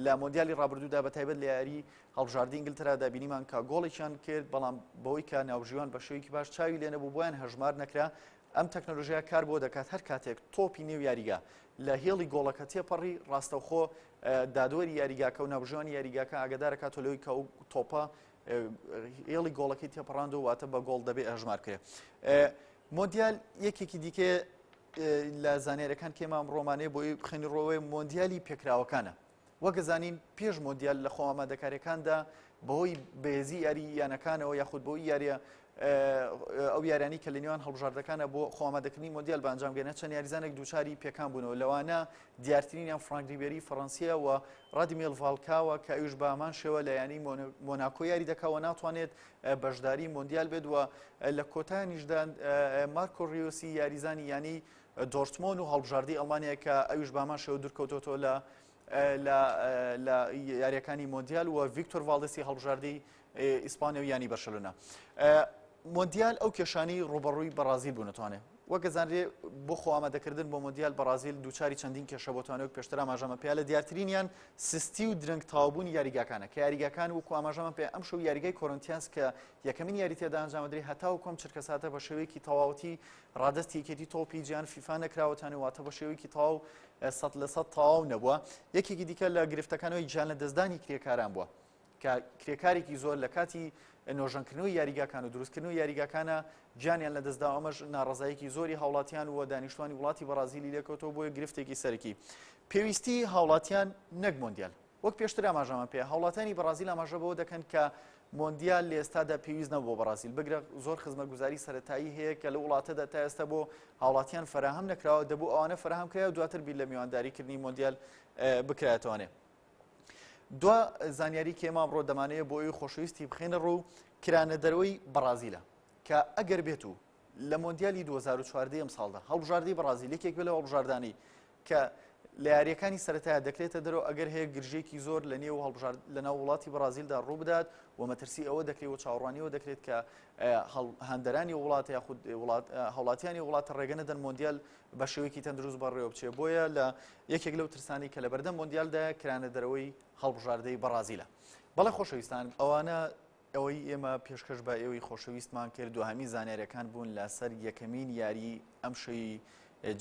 لە مۆندیالی ڕابردوودا بە تایبەت لە یاری هەڵبژاردی ئینگلتەرادا بینیمان کە گۆڵێکیان کرد بەڵام بەوەی کە ناوژیوان بە شێوەیەکی باش چاوی لێ نەبوو بۆیان هەژمار نەکرا ئەم تەکنۆلژیا کار بۆ دەکات هەر کاتێک تۆپی نێو یاریگا لە هێڵی گۆڵەکە تێپەڕی ڕاستەوخۆ دادوەری یاریگاکە و ناوژوانی یاریگاکە ئاگدارەکە تۆلەوەی کە ئەو تۆپە هێڵی گۆڵەکەی تێپەڕاند و واتە بە گۆڵ دەبێ ئەژمار کرێ مۆندیال یەکێکی دیکە لە زانێرەکان کێمە ئەم ڕۆمانەیە بۆی بخێنی ڕۆوەی مۆندیالی پێکراوەکانە وەگەزانین پێش مۆندیال لە خۆمامادەکارەکاندا بەهۆی بێزی یاری یانەکانەوە یاخود بۆی یاریە ئەو یاریانەی کە لە نێوان هەڵبژاردەکانە بۆ خۆمادەکردنی مۆندیال بە ئەنجام گەنە چەند یاریزانێک دووچاری پێکان بوونەوە لەوانە دیارترینیان فرانک ریبێری فەڕەنسیە و ڕادمیێل ڤالکاوە کە ئەوش بامان شێوە لە ینی مۆناکۆ یاری دەکەوە ناتوانێت بەشداری مۆندیال بێت وە لە کۆتانیشدان مارکۆ ریۆسی یاریزانی ینی دۆرتمۆن و هەڵبژاردی ئەڵمانەیە کە ئەوش بامان شێوە دوورکەوتۆتۆ لە لە یاریەکانی مۆندیال و ڤیکتۆر ڤالدسی هەڵبژاردەی ئیسپانیا و یانی بەرشەلۆنە مۆندیال ئەو کێشانی ڕوبەڕووی بەڕازیل بوو نتوانێ وەگەزانرێ بۆ خۆ ئامادەکردن بۆ مۆندیال بەڕازیل دووچاری چەندین کێشە بۆتوانێت پێشتر ئاماژەمە پێ لە دیارترینیان سستی و درەنگ تاوبوونی یاریگاکانە کە یاریگاکان وکو ئاماژەمە پێ ئەم شەو یاریگای کۆرنتیانس کە یەکەمین یاری تێدا ئەنجامدرری هەتا و کۆم چرکە ساتە بە شێوەیەکی تەواوەتی ڕادستی یەکێتی تۆپی جیان فیفا نەکراوەتانی واتە بە شێوەیەکی تاو سە لە سە تاو نەبووە یەکێکی دیکە لە گرفتەکانەوەی جیان لە دەستدانی کرێکاران بووە. کە کرێکارێکی زۆر لە کاتی نۆژەنکردنەوەی یاریگاکان و دروستکردنەوەی یاریگاکانە گیانیان لەدەستدا و ئەمەش ناڕەزایەکی زۆری هاوڵاتیان و دانیشتوانی وڵاتی بەڕازیلی لێکەوتەوە بۆیە گرفتێکی سەرەکی پێویستی هاوڵاتیان نەک مۆندیال وەک پێشتر ئاماژەمان پێ هاوڵاتانی بەڕازیل ئاماژە بەوە دەکەن کە مۆندیال لە ئێستادا پێویست نەبوو بۆ بەڕازیل بگرە زۆر خزمەتگوزاری سەتایی هەیە کە لە وڵاتەدا تا ئێستا بۆ هاوڵاتیان فراهەم نەکراوە دەبوو ئەوانە فراهەم کرا و دواتر بیر لە میوانداریکردنی مۆندیال بکرایەتوانێت دوا زانیاری کێ مامڕۆ دەمانەیە بۆ ئەوی خۆشەویستی بخێنە ڕوو کرانە دەرەوەی بەڕازیلە کە ئەگەر بێت و لە مۆندیالی 2014 ئەم ساڵدا هەڵبژاردەی بەڕازیل یەکێک بێ لە هەڵبژاردانی کە لە یاریەکانی سەرەتایە دەکرێتە دەرەوە ئەگەر هەیە گرژێکی زۆر لە نێو هەڵبژارد لە ناو وڵاتی بەڕازیلدا ڕوو بدات و مەترسی ئەوە دەکرێت و چاوڕانیەوە دەکرێت کە هەندەرانی وڵات یاخود هەوڵاتیانی وڵاتە ڕێگەنەدەن مۆندیال بە شێوەیەکی تەندروست بەڕێوە بچێت، بۆیە لە یەکێک لەو ترسانەی کە لەبەردەم مۆندیالدایە کرانە دەرەوەی هەڵبژاردەی بەڕازیلە. بەڵێ خۆشەویستان ئەوانە ئەوەی ئێمە پێشکەش بە ئێوەی خۆشەویستمان کرد دوهەمین زانیاریەکان بوون لەسەر یەکەمین یاری ئەمشەوی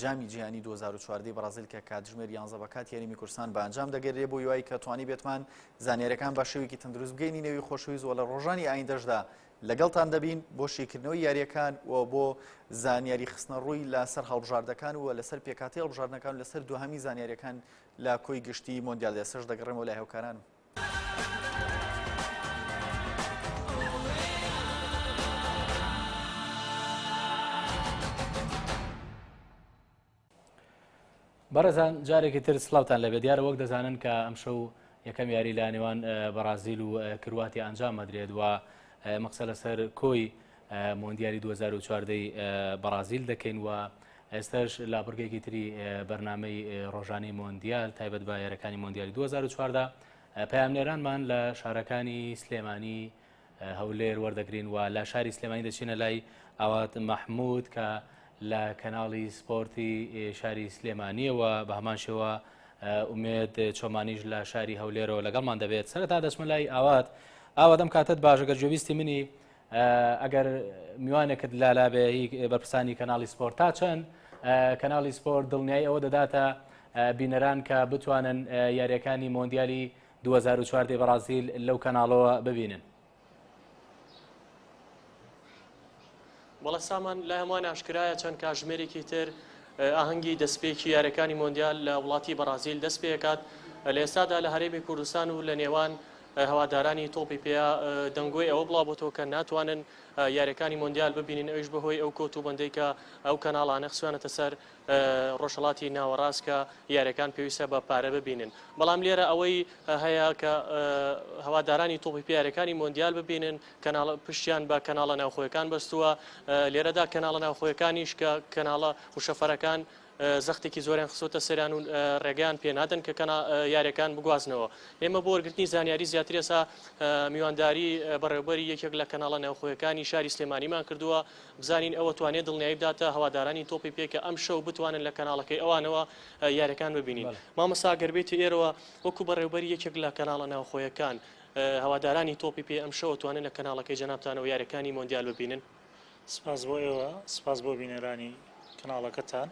جامی جیهانی 2014 بەڕازیل کە کاتژمێر 11 بە کات یاریمی کورسان بە ئەنجام دەگەرێ بۆ یوای کە توانی بێتمان زانیارەکان بە شێوێکی تەندروست بگەینی نێوی خۆشویست وە لە ڕۆژانی ئایندەشدا لەگەڵتان دەبین بۆ شیکردنەوەی یاریەکان و بۆ زانیاری خستنە ڕووی لەسەر هەڵبژاردەکان و لەسەر پێکاتی هەڵبژاردنەکان لەسەر دوهامی زانیاریەکان لە کۆی گشتی مۆندیال دەسەش دەگەڕێمەوە لای هەوکارانم. بەڕێزان جارێکی تر سلااوان لەبێ دیارە وەک دەزانن کە ئەم شەو یەکەم یاری لە نێوان بەڕازیل و کرواتی ئەنجام مەدرێت و مەقسە لەسەر کۆی مۆندیاری 2014 بەڕازیل دەکەین و ئێستش لا بڕگێکی تری بەرنمەی ڕۆژانی مۆندیال تایبەت بە یارەکانی مۆندیالی 2014 پامنێرانمان لە شارەکانی سلێمانی هەولێر وەردەگرین و لە شاری سلێمانی دەچینە لای ئاوات مەحمود کە لە کەناڵی سپۆرتی شاری سلێمانیەوە بە هەمان شێوە ئومێد چۆمانیش لە شاری هەولێرەوە لەگەڵمان دەبێت سەرتا دەچمە لای ئاوات ئاوادەم کاتت باشەگەر جوێویستی منی ئەگەر میوانێکت لالابێ بەرپسانی کەناڵی سپۆرت تا چەند کەناڵی سپۆرت دڵنیای ئەوە دەداتە بینەران کە بتوانن یاریەکانی مۆندیالی دوو هەزار و چوار دەی بەڕازیل لەو کەناڵەوە ببینن. بەڵێ سامان لای هەمووان ئاشکرایە چەند کاژمێرێکی تر ئاهەنگی دەستپێکی یاریەکانی مۆندیال لە وڵاتی بەڕازیل دەست پێکات لە ئێستادا لە هەرێمی کوردستان و لە نێوان هەوادارانی تۆپی پێیا دەنگۆی ئەوە بڵاو بۆ تۆکە ناتوانن یاریەکانی مۆندیال ببینین ئەوش بەهۆی ئەو کۆت و بەندێکە ئەو کەناڵانە خسوانەتە سەر ڕۆژهەڵاتی ناوەڕاست کە یاریەکان پێویستە بە پارە ببینن بەڵام لێرە ئەوەی هەیە کە هەوادارانی تۆپی پیارەکانی مۆندیال ببینن کەناڵ پشتیان بە کەناڵە ناوخۆیەکان بەستووە لێرەدا کەناڵە ناوخۆیەکانیش کە کەناڵە وشەفەرەکان زەختێکی زۆریان خسۆتە سەران و ڕێگەیان پێنادەن کە کەنا یاریەکان بگوازنەوە ئێمە بۆ وەرگرتنی زانیاری زیاتر ێسا میوانداری بەڕێوبەری یەکێک لە کەناڵە ناوخۆیەکانی شاری سلێمانیمان کردووە بزانین ئەوە توانێت دڵنیایی بداتە هەوادارانی تۆپی پێ کە ئەمشەو بتوانن لە کەناڵەکەی ئەوانەوە یاریەکان ببینین مامۆسا گەر بێیتە ئێرەوە وەکو بەڕێوبەری یەکێک لە کەناڵە ناوخۆیەکان هەوادارانی تۆپی پێ ئەمشەو توانن لە کەناڵەکەی جەنابتانەوە یاریەکانی مۆندیال ببینن سپاس بۆ ئێوە سپاس بۆ بینەرانی کەناڵەکەتان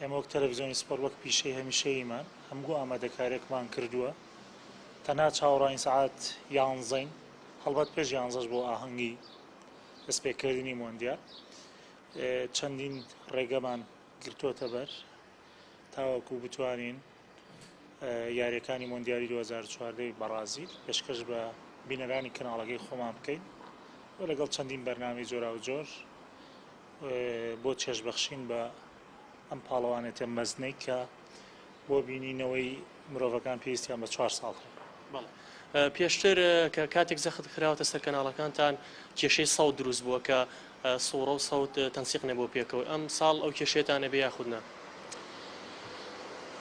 ئێمە وەک تەلەڤزیۆنی سپۆر وەک پیشەی هەمیشەییمان هەمگو ئامادەکارێکمان کردووە تەنها چاوەڕوانین سەعات یانزەین هەڵبەت پێش یانزەش بۆ ئاهەنگی دەستپێکردنی مۆندیال چەندین ڕێگەمان گرتووەتە بەر تاوەکو بتوانین یاریەکانی مۆندیالی 2014 بەڕازیل پێشکەش بە بینەرانی کەناڵەکەی خۆمان بکەین و لەگەڵ چەندین بەرنامی جۆرا و جۆر بۆ چێشبەخشین بە ئەم پاڵەوانێتە مەزنەی کە بۆ بینینەوەی مرۆڤەکان پێویستیان بە چوار ساڵ هەیە. پێشتر کە کاتێک زەخت خراوەتە سەر کەناڵەکانتان کێشەی سەوت دروست بووە کە سوڕە و سەوت تەنسیق نەبوو پێکەوە ئەم ساڵ ئەو کێشێتانە بێ یاخودنا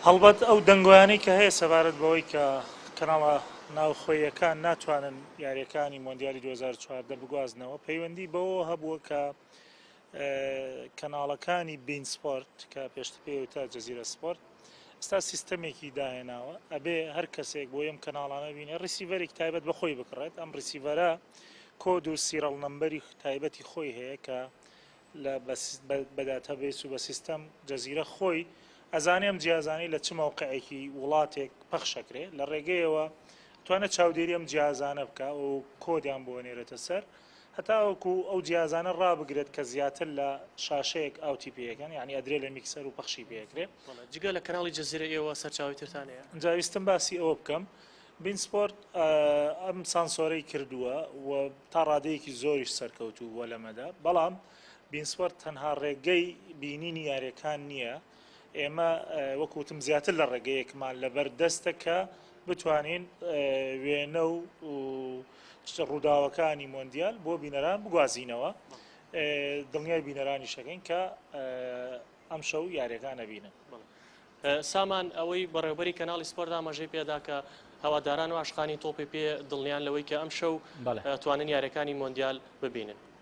هەڵبەت ئەو دەنگۆیانەی کە هەیە سەبارەت بەوەی کە کەناڵە ناوخۆیەکان ناتوانن یاریەکانی مۆندیالی 2014 بگوازنەوە پەیوەندی بەوە هەبووە کە کەناڵەکانی بین سپۆرت کە پێشتر پێی وتە جەزیرە سپۆرت ئستا سیستەمێکی داهێناوە ئەبێ هەر کەسێک بۆ ئەم کەناڵانە بینێ ڕیسیڤەرێک تایبەت بەخۆی بکڕێت ئەم ڕیسیڤەرە کۆد و سیرەڵ نمبەری تایبەتی خۆی هەیە کە لە بەداتە بێس و بە سیستەم جەزیرە خۆی ئەزانێ ئەم جیازانەی لە چ مەوقعێکی وڵاتێک پەخشەکرێ لە ڕێگەیەوە توانە چاودێری ئەم جیازانە بکە و کۆدیان بۆ نێرێتە سەر و هەتاوەکو ئەو جیازانە ڕابگرێت کە زیاتر لە شاشەیەک ئاوتی پێیەکەن یانی ئەدرێ لە میکسەر و پەخشی پێیەکرێ. بەڵێ جگە لە کەناڵی جەزیرە ئێوە سەرچاوەی ترتان هەیە؟ ئینجا ویستم باسی ئەوە بکەم بین سپۆرت ئەم سانسۆرەی کردووە و تا ڕادەیەکی زۆریش سەرکەوتوو بووە لەمەدا بەڵام بین سپۆرت تەنها ڕێگەی بینینی یاریەکان نییە ئێمە وەک وتم زیاتر لە ڕێگەیەکمان لەبەر دەستە کە بتوانین وێنە و ڕووداوەکانی مۆندیال بۆ بینەران بگوازینەوە دڵنیای بینەرانی شەکەین کە ئەم شەو یاریەکان نەبینن سامان ئەوەی بەڕێوبەری کەناڵی سپۆر دامەژەی پێدا کە هەواداران و عشقانی تۆپی پێ دڵنیان لەوەی کە ئەم شەو توانن یارەکانی مۆندیال ببینن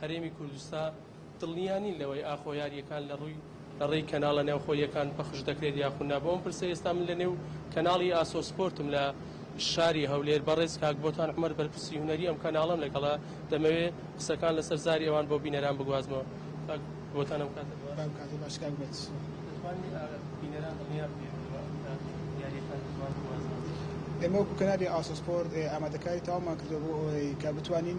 هەرێمی کوردستا دڵنیا نین لەوەی ئاخۆ یارییەکان لە ڕووی لە ڕێی کەناڵە نێوخۆییەکان پەخش دەکرێت یاخو نا بۆ ئەم پرسە ئێستا من لە نێو کەناڵی ئاسۆ سپۆرتم لە شاری هەولێر بەڕێز کاک بۆتان عومەر بەرپرسی هونەری ئەم کەناڵەم لەگەڵە دەمەوێ قسەکان لەسەر زاری ئەوان بۆ بینەران بگوازمەوە کاک بۆتان ئەم کاتە باش بەم کاتە باش کاک بێت دەتوانی بینەران دڵنیا بکەیت لەوە ئەم کات یارییەکان دەتوان بگوازمەوە ئێمە وەکو کەنالی ئاسۆ سپۆرت ئامادەکاری تەواومان کردووە بۆ ئەوەی کە بتوانین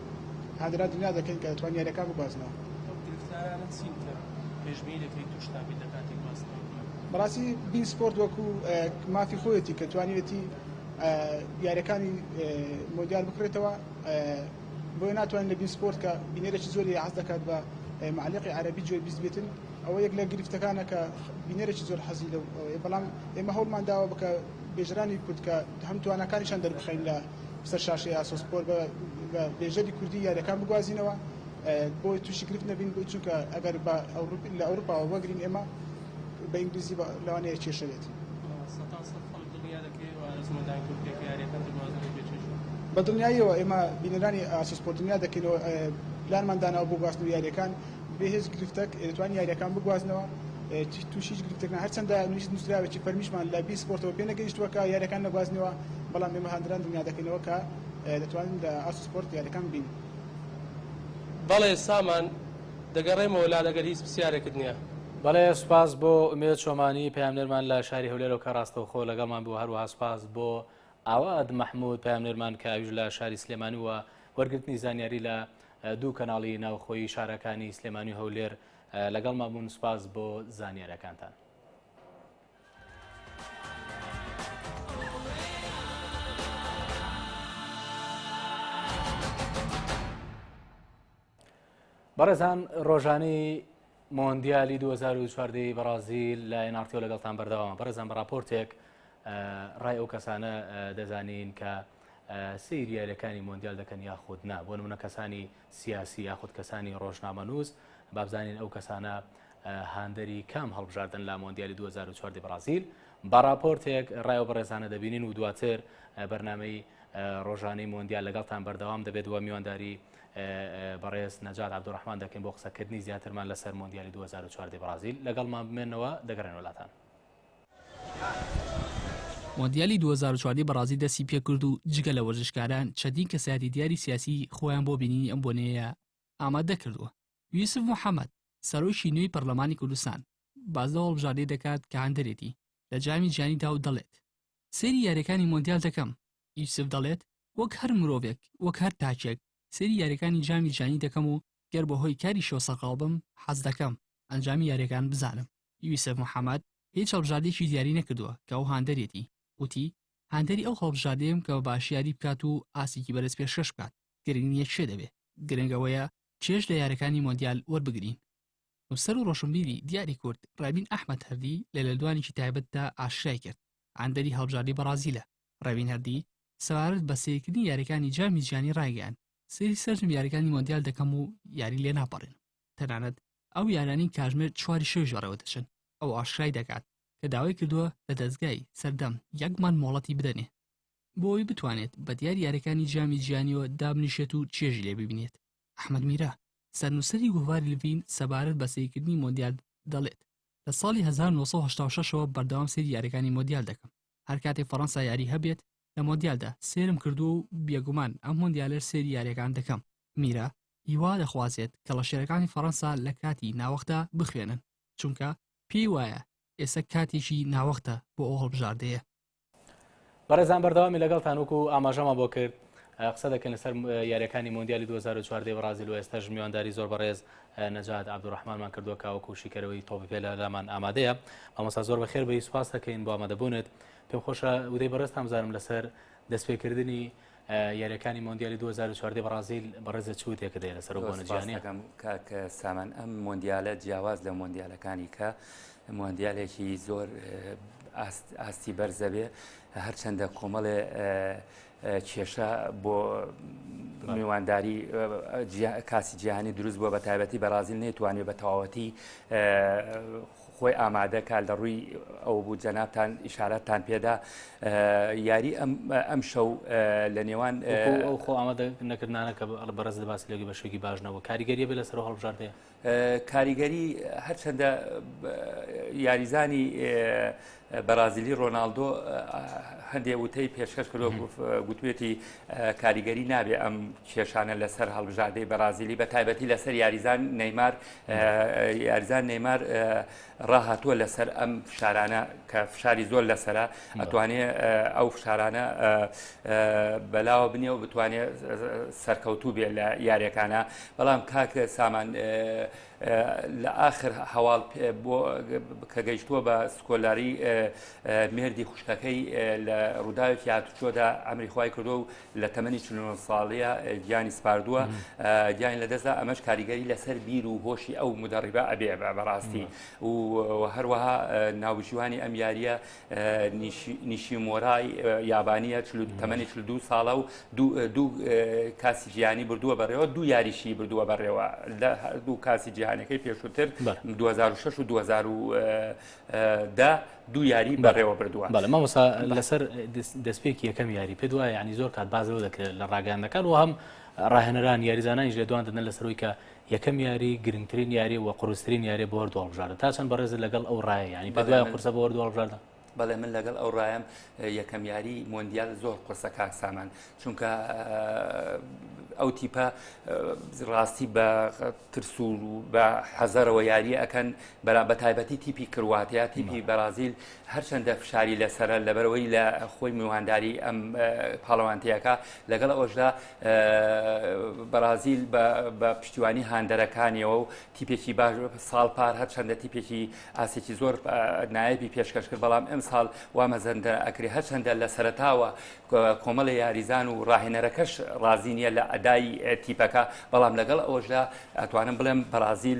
هەدرا دنیا دەکەین کە دەتوان یاریەکان بگوازنەوە. ئەو گرفتارانە چین کە پێشبینی دەکەیت توشتان بیت لە کاتی گواستنەوەی تیم؟ بەڕاستی بین سپۆرت وەکو مافی خۆیەتی کە توانیوێتی یاریەکانی مۆندیال بکڕێتەوە بۆیە ناتوانین لە بین سپۆرت کە بینەرێکی زۆری حەز دەکات بە معلقی عربی جوێ بیست بێتن ئەوە یەک لە گرفتەکانە کە بینەرێکی زۆر حەزی لەو بەڵام ئێمە هەوڵمان داوە بکە بێژرانی کورد کە هەم توانەکانیشان دەربخەین لە سەر شاشەی ئاسۆ سپۆر بە بێژەری کوردی یاریەکان بگوازینەوە بۆی تووشی گرفت نەبین بۆی چونکە ئەگەر بە لە ئەوروپاوە وەگرین ئێمە بە ئینگلیزی لەوانەیە کێشەێت بە دڵنیاییەوە ئێمە بینەرانی ئاسۆسپۆرتنیا دەکەینەوە پلانمان داناوە بۆ گواستنەوە یاریەکان بێ هێچ گرفتەک دەتوانین یارییەکان بگوازنەوە، تووشی هیچ گرفتێک نابین، هەرچەندە نووسراوێکی فەرمیشمان لە بیر سپۆرتەوە پێ نەگەیشتووە کە یارییەکان نەگوازنەوە، بەڵام ئێمە هاندەران دڵنیا دەکەینەوە کە دەتوانین لە ئاست سپۆرت یارییەکان ببینین. بەڵێ سامان، دەگەڕێمەوە لات ئەگەر هیچ پرسیارێکت نییە. بەڵێ، سوپاس بۆ ئومێد چۆمانی، پەیامنێرمان لە شاری هەولێرەوە کە ڕاستەوخۆ لەگەڵمان بوو، هەروەها سوپاس بۆ ئاوات مەحموود، پەیامنێرمان کە ئەویش لە شاری سلێمانی و وەرگرتنی زانیاری لە دوو کەناڵی ناوخۆیی شارەکانی سلێمانی و هەولێر لەگەڵمان بوون سوپاس بۆ زانیارەکانتان. بەڕێزان ڕۆژانەی مۆندیالی دوو هەزار و چواردە ی بەڕازیل لە ئێناڕتیۆ لەگەڵتان بەردەوامە بەڕێزان بە ڕاپۆرتێک ئە، ڕای ئەو کەسانە ئە، دەزانین کە ئە، سەیری یارییەکانی مۆندیال دەکەن یاخود نا بۆ نموونە کەسانی سیاسی یاخود کەسانی ڕۆژنامەنووس با بزانین ئەو کەسانە ئە، هاندەری کام هەڵبژاردەن لە مۆندیالی دوو هەزار و چواردە ی بەڕازیل بە ڕاپۆرتێک ڕای ئەو بەڕێزانە دەبینین و دواتر ئە، بەرنامەی ئە، ڕۆژانەی مۆندیال لەگەڵتان بەردەوام دەبێت و میوانداری بەڕێز نەجات عەبدوڕەحمان دەکەین بۆ قسەکردنی زیاترمان لەسەر مۆندیالی 2014 بەڕازیل لەگەڵمان بمێنەوە دەگەڕێن وڵاتان. مۆندیالی 2014 بەڕازیل دەستی پێکرد و جگە لە وەرزشکاران چەندین کەسایەتی دیاری سیاسی خۆیان بۆ بینینی ئەم بۆنەیە ئامادە کردووە. یوسف محەممەد سەرۆکی نوێی پەرلەمانی کوردستان باس لەو هەڵبژاردەی دەکات کە هاندەرێتی لە جامی جیهانیدا و دەڵێت، سەیری یاریەکانی مۆندیال دەکەم. یوسف دەڵێت، وەک هەر مرۆڤێک، وەک هەر تاکێک، سەیری یاریەکانی جامی جیهانی دەکەم و گەر بەهۆی کاریشەوە سەرقاڵ بم، حەز دەکەم ئەنجامی یاریەکان بزانم. یوسف محەمەد هیچ هەڵبژاردەیەکی دیاری نەکردووە کە ئەو هاندەرێتی، وتی، هاندەری ئەو هەڵبژاردەیەم کە بە باشی یاری بکات و ئاستێکی بەرز پێشکەش بکات، گرنگ نییە کێ دەبێ، گرنگ ئەوەیە چێژ لە یاریەکانی مۆندیال وەربگرین. نووسەر و ڕۆشنبیری دیاری کورد ڕەبین ئەحمەد هەردی لە لێدوانێکی تایبەتدا ئاشکرای کرد ئەندەری هەڵبژاردەی بەڕازیلە ڕەبین هەردی سەبارەت بە سەیرکردنی یاریەکانی جامی جیهانی ڕایگەیاند سەیری سەرجەم یاریەکانی مۆندیال دەکەم و یاری لێ ناپەڕێنم تەنانەت ئەو یارانی کاژمێر چواری شەویش بەڕێوە دەچن ئەو ئاشکرای دەکات کە داوای کردووە لە دەزگای سەردەم یەک مانگ مۆڵەتی بدەنێ بۆ ئەوی بتوانێت بە دیاری یاریەکانی جامی جیهانیەوە دابنیشێت و چێژی لێ ببینێت ئەحمەد میرە، سەرنووسەری گۆڤاری لڤین سەبارەت بە سەیرکردنی مۆندیال دەڵێت، لە ساڵی هەزار و نۆ سەد و هەشتا و شەش ەوە بەردەوام سەیری یارییەکانی مۆندیال دەکەم، هەر کاتێک فەڕەنسا یاریی هەبێت لە مۆندیالدا، سەیرم کردووە و بێگومان ئەم مۆندیالەش سەیری یارییەکان دەکەم. میرە، هیوا دەخوازێت کەڵەشێرەکانی فەڕەنسا لە کاتی ناوەختدا بخوێنن، چونکە پێی وایە ئێسە کاتێکی ناوەختە بۆ ئەو هەڵبژاردەیە. بەڕێزان بەردەوامی لەگەڵتان وکو ئاماژەما بۆ کرد قسە دەکەن لەسەر یاریەکانی مۆندیالی 2014 بەڕازیل و ئێستاش میوانداری زۆر بەڕێز نەجات عبدڕحمانمان کردووە کاوەکو شیکەرەوەی تۆپی پێ لە لامان ئامادەیە ئەمەسا زۆر بەخێر بە سوپاس دەکەین بۆ ئامادەبوونێت پێم خۆشە ودەی بەڕێز تامزانم لەسەر دەستپێکردنی یاریەکانی مۆندیالی 2014 بەڕازیل بەڕێزە چوتێکە دێ لەسەر بۆنەجیانەکەم کاک سامان ئەم مۆندیالە جیاواز لە مۆندیالەکانی کە مۆندیالێکی زۆر ئاستی بەرزەبێ هەرچەندە کۆمەڵێ کێشە بۆ میوانداری کاسی جیهانی دروست بووە بە تایبەتی بەرازیل نەیتوانێت بە تەواوەتی خۆی ئامادە کا لە ڕووی ئەوە بوو جەنابان ئشارەتتان پێدا یاری ئەم ئەم شەو لە نێوان ئەو خۆ ئامادە نەکردانە کە ئەڵ بەڕز لە باسی لەگە بە شوێکی باش نەبوو کاریگەریە بێ لەسەر هەڵبژاردەیە کاریگەری هەرچەندە یاریزانی بەرازیلی ڕۆناالدۆ هەندێک وتەی پێشکەش کردۆ گوتوێتی کاریگەری نابێ ئەم کێشانە لەسەر هەڵبژاردەی بەرازیلی بە تایبەتی لەسەر یاریزان نەیمار یاریزان نەیمار ڕاهاتووە لەسەر ئەم فشارانە کە فشاری زۆر لەسرە ئەتوانێ ئەو فشارانە بەلاوە بنێ و بتوانێت سەرکەوتوو بێ لە یاریەکانە بەڵام کاکە سامان لە ئاخر هەواڵ کە گەیشتووە بە سکۆلاری مێردی خوشکەکەی لە ڕووداوێکی هاتوچۆدا ئەمری خی کردو و لە تەمەنی چ ساڵەیە گیانی سپاردووە گیان لە دەستدا ئەمەش کاریگەری لەسەر بیر و هۆشی ئەو مدەڕیبە ئەبێ بەڕاستی و هەروەها ناوژیوانی ئەم یاریە نیشیمۆرای یابانییە تەمەنی چل دوو ساڵە و دوو کاسی جیهانی بردووە بەڕێوە دوو یاریشی بردووە بەڕێوە لە هەردوو کاسی جیهانەکەی پێشووتر 2006 و 2010 دوو یاری بەڕێوە بردووە بەڵێ مامۆسا لەسەر دەستپێکی یەکەم یاری پێ دوایە ینی زۆر کات بازەوە دەکرێت لە ڕاگەاندەکان و هەم ڕاهێنەران یاریزانانیش لە دوان دەدەن لەسەرەوەی کە یەکەم یاری گرنگترین یاری و قورسترین یاری بۆ هەردوو هەڵبژاردە تا چەند بەڕێزت لەگەڵ ئەو ڕایە یانی پێت وایە قورسە بۆ هەردوو هەڵبژاردە؟ بەڵێ من لەگەڵ ئەو ڕایم یەکەم یاری مۆندیال زۆر قورسە کاک سامان چونکە ئەو تیپە ڕاستی بە ترسور و بە حەزەرەوە یاریە ئەەکەن بە تایبەتی تیپی کرواتیا تیپی بەرازیل هەرچەندە فشاری لەسەرە لەبەرەوەی لە خۆی میوانداری ئەم پاڵەوانتەیەەکە لەگەڵ ئەوەشدا بەرازیل بە پشتیوانی هاندەرەکانیەوە و تیپێکی باش ساڵ پار هەرچەندە تیپێکی ئاسێکی زۆر نایبی پێشکەش کرد بەڵام ئەم ساڵ وا مەزەندە ئەکری هەرچەندە لە سەرتاوە کۆمەڵی یاریزان و ڕاهێنەرەکەش ڕازی نیە لە ئەدای تیپەکە بەڵام لەگەڵ ئەوەشدا ئەتوانم بڵێم بەرازیل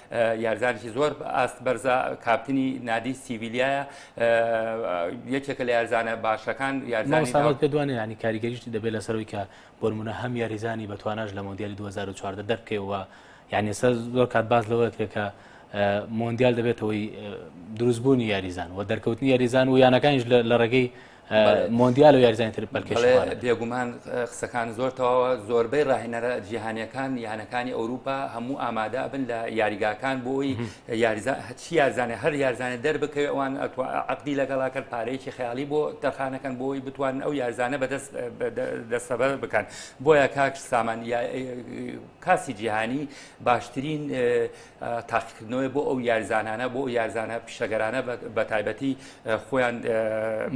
یاریزانێکی زۆر ئاست بەرزە کاپتنی نادی سیویلیایە یەکێکە لە یاریزانە باشەکان یاریزانی پێ دوانێ ینی کاریگەریشتی دەبێت لەسەرەوەی کە بۆرمونە هەم یاریزانی بە تواناش لە مۆندیالی 2014 دەرکەوە یعنی سەر زۆر کات باز لەوە کرێکە مۆندیال دەبێتەوەی دروستبوونی یاریزان و دەرکەوتنی یاریزان و یانەکانیش لە ڕێگەی مۆندیال و یاریزانانی تر پەلکێش بێگومان قسەکان زۆر تەواوە زۆربەی ڕاهێنەرە جیهانیەکان یانەکانی ئەوروپا هەموو ئامادا بن لە یاریگاکان بۆی یاریزا هەچی یارزانێ هەر یارزانە دەربکەوێ ئەوان ئەتو عقدی لەگەڵا کرد پارەیەکی خیالی بۆ تەرخانەکەن بۆی بتوان ئەو یارزانە بەدەست دەستەبەر بکەن بۆیە کاک سامان کاسی جیهانی باشترین تاقیکردنەوەی بۆ ئەو یارزانانە بۆ یارزانە پیشەگەرانە بە تایبەتی خۆیان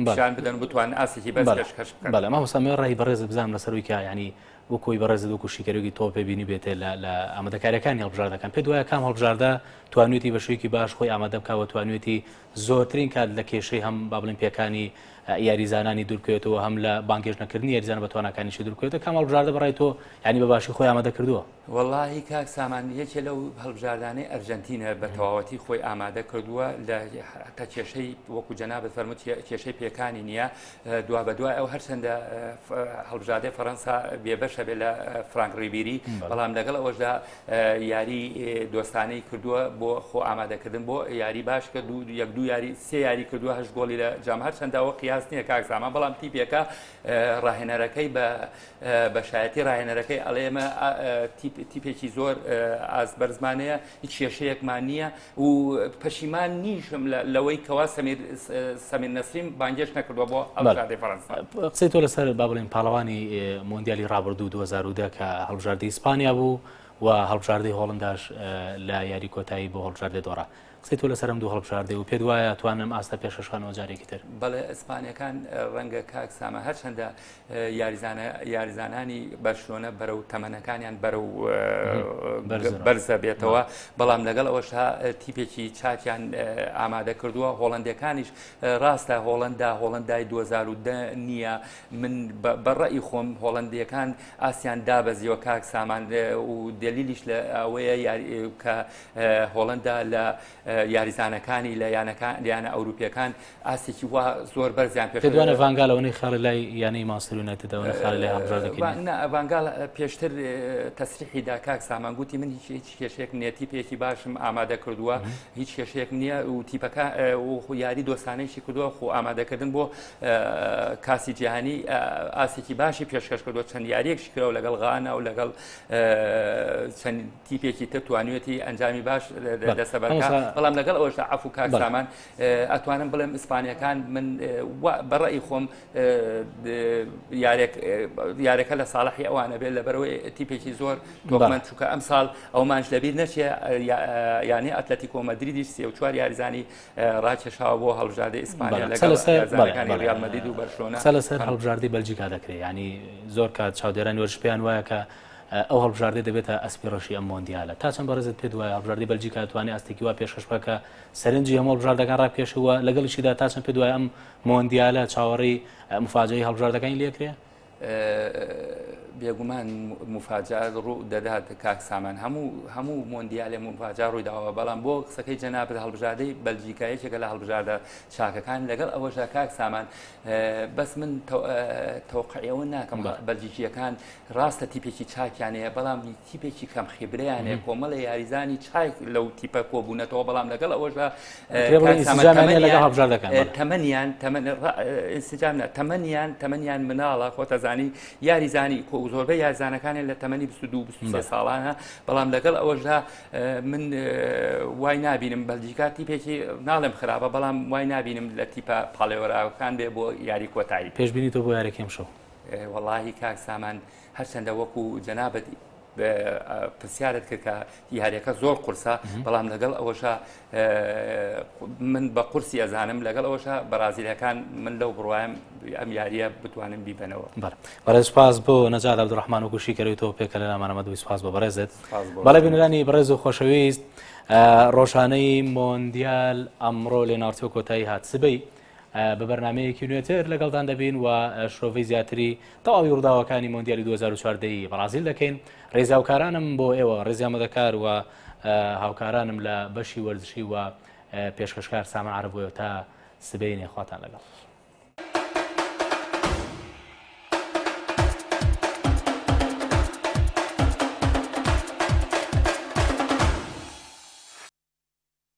پیشان بدەن بتوان ئاسێکی بەس پێشکەش بکەن بەڵێ مامۆستا مێ ڕای بەڕێزت بزانم لەسەروی کە ینی وەکۆی بەڕێزت وەکو شیکەرێکی تۆ پێ بینی بێتێ لە ئامادەکاریەکانی هەڵبژاردەکان پێ دوایە کام هەڵبژاردە توانێتی بە شوێکی باش خۆی ئامادە بکەوە توانێتی زۆرترین کات لە کێشەی هەم با بڵێن پێکانی یاریزانانی دوورکەوێتەوە هەم لە بانگێش نەکردنی یاریزان بە توانەکانیشی دوورکەوێتە کام هەڵبژاردە بەڕای تۆ ینی بە باشی خۆی ئامادە کردووە وەڵاهی کاک سامان یەکێ لەو هەڵبژاردانەی ئەرجەنتینە بە تەواوەتی خۆی ئامادە کردووە لە حتا کێشەی وەکو جەنابەت فەرمووت کێشەی پێکانی نییە دوا بە دوای ئەو هەرچەندە هەڵبژاردەی فەرەنسا بێبەشە بێ لە فرانک ڕیبیری بەڵام لەگەڵ ئەوەشدا یاری دۆستانەی کردووە بۆ خۆ ئامادەکردن بۆ یاری باش کە دوو یەک دوو یاری سێ یاری کردووە هەش گۆڵی لە جام هەرچەنداوە قیاس نییە کاک سامان بەڵام تیپێکە ڕاهێنەرەکەی بە بەشایەتی ڕاهێنەرەکەی ئەڵێ ئێمە تیپێکی زۆر ئاست بەرزمانەیە هیچ کێشەیەکمان نییە و پەشیمان نیشم لەوەی کەوا سەمیر نەسریم بانگێش نەکردوە بۆ ئەڵژادی فەرەنسا قسەی تۆ لەسەر با بڵێن پاڵەوانی مۆندیالی ڕابردوو 2010 کە هەڵبژاردی ئیسپانیا بوو و هەڵبژاردەی هۆڵنداش لە یاری کۆتایی بۆ هەڵبژاردە دۆڕا قسەی تۆ لەسەر ئەم دوو هەڵبژاردەی و پێت وایە توان ئەم ئاستە پێشەشخەنەوە جارێکی تر؟ بەڵێ ئیسپانیەکان ڕەنگە کاک ساما هەرچەندە یاریزانە یاریزانانی بەرشلۆنە بەرەو تەمەنەکانیان بەرەو بەرزە بێتەوە بەڵام لەگەڵ ئەوەشا تیپێکی چاکیان ئامادە کردووە هۆڵندەکانیش ڕاستە هۆڵندا هۆڵندای 2010 نییە من بەڕئی خۆم هۆڵندیەکان ئاسیان دابەزیەوە کاک سامان و دلیلیش لە ئەوەیە یاری کە هۆڵەندا لە یاریزانەکانی لە یانە ئەوروپیەکان ئاستێکی وا زۆر بەرزیان پێ دوانە ڤانگالەوەی خاڵ لای یانەی ماسترونەتەوەە خاڵ لای هەڵژاردەکەڤانگال پێشتر تەسریحی دا کاک سامانگوتی من هیچ هیچ کێشێک نێتی پێکی باشم ئامادە کردووە هیچ کێشێک نییە و تیپەکە یاری دۆستانێکی کردووە خۆ ئامادەکردن بۆ کاسی جیهانی ئاسێکی باشی پێشکەش کردو چەند یاریەکشکەوە لەگەڵ غانا و لەگەڵ چەند تیپێکی تر توانوێتی ئەنجامی باش دەسەبەر بەڵام لەگەڵ ئەوشدا عفو کاک سامان ئەتوانم بڵێم ئیسپانیەکان من بەڕی خۆم یارەکە لە ساڵحی ئەوانە بێت لە بەرەوەی تیپێکی زۆر تۆمان چووکە ئەم ساڵ ئەومانش لەبیر نەچێ یانی ئەتلەتی کۆمەدریدی سێ و چوار یاریزانی ڕاکێشاوە بۆ هەڵژادە ئیسپانیا لەگەڵەکانی ریال مەدید و بەرشۆنە لەسەر هەڵبژاردی بەلجیکا دەکرێت ینی زۆر کات چاودێران وەرش پێیان وایە کە ئەو هەڵبژاردەی دەبێتە ئەسپی ڕەشی ئەم مۆندیالە. تا چەند بەڕێزت پێت وایە هەڵبژاردەی بەلجیکا دەتوانێت ئاستێکی وا پێشکەش بکات کە سەرنجی هەموو هەڵبژاردەکان ڕابکێشێت و لەگەڵیشیدا تا چەند پێت وایە ئەم مۆندیالە چاوەڕێی مفاجەئی هەڵبژاردەکانی لێکرێ؟ بێگومان مفاجا ڕوو دەدات کاک سامان هەموو هەموو مۆندیالێ مفاجا ڕووی داوە بەڵام بۆ قسەکەی جەنابت هەڵبژاردەی بەلجیکا یەکێکە لە هەڵبژاردە چاکەکان لەگەڵ ئەوەشە کاک سامان بەس من تەوقعەوە ناکەم بەلجیکیەکان راستە تیپێکی چاکیان هەیە، بەڵام تیپێکی کەم خیبرەیان هەیە، کۆمەڵێ یاریزانی چاک لەو تیپە کۆبوونەتەوە، بەڵام لەگەڵ ئەوەشدا تەمەنیان ئینسجام نە تەمەنیان تەمەنیان مناڵە خۆتەزانی یاریزانی کۆ زۆربە یارزانەکانیان لە تەمەنی 22 23 ساڵانە بەڵام لەگەڵ ئەوەشدا من وای نابینم بەلجیکا تیپێکی ناڵێم خراپە بەڵام وای نابینم لە تیپە پاڵێوەراوەکان بێ بۆ یاری کۆتایی پێشبینی تۆ بۆ یاریکەم شەو وەڵاهی کاک سامان هەرچەندە وەکو جەنابەت پرسیارت کرد کە یاریەکە زۆر قورسە بەڵام لەگەڵ ئەوەشە من بە قورسی ئەزانم لەگەڵ ئەوەشە بەرازیلەکان من لەو بڕوایم ئەم یاریە بتوانم بیبنەوە بەڕێز پاس بۆ نەجار عبدڕحمان و گوشی کەەوەی تۆ پێکە لە نامانەمە دوی سپاس بۆ بەڕێزت بەڵێ بینرانی بەڕێز و خۆشەویست ڕۆژانەی مۆندیال ئەمڕۆ لێناوتۆ کۆتایی هات سبەی بە بەرنامەیەکی نوێتر لەگەڵتان دەبین و شرۆڤەی زیاتری تەواوی ڕووداوەکانی مۆندیالی 2014 ی بەڕازیل دەکەین ڕێزاوکارانم بۆ ئێوە ڕێزیامەدەکار و هاوکارانم لە بەشی وەرزشی و پێشکەشکار سامان عربۆیە تا سبەینێ خواتان لەگەڵ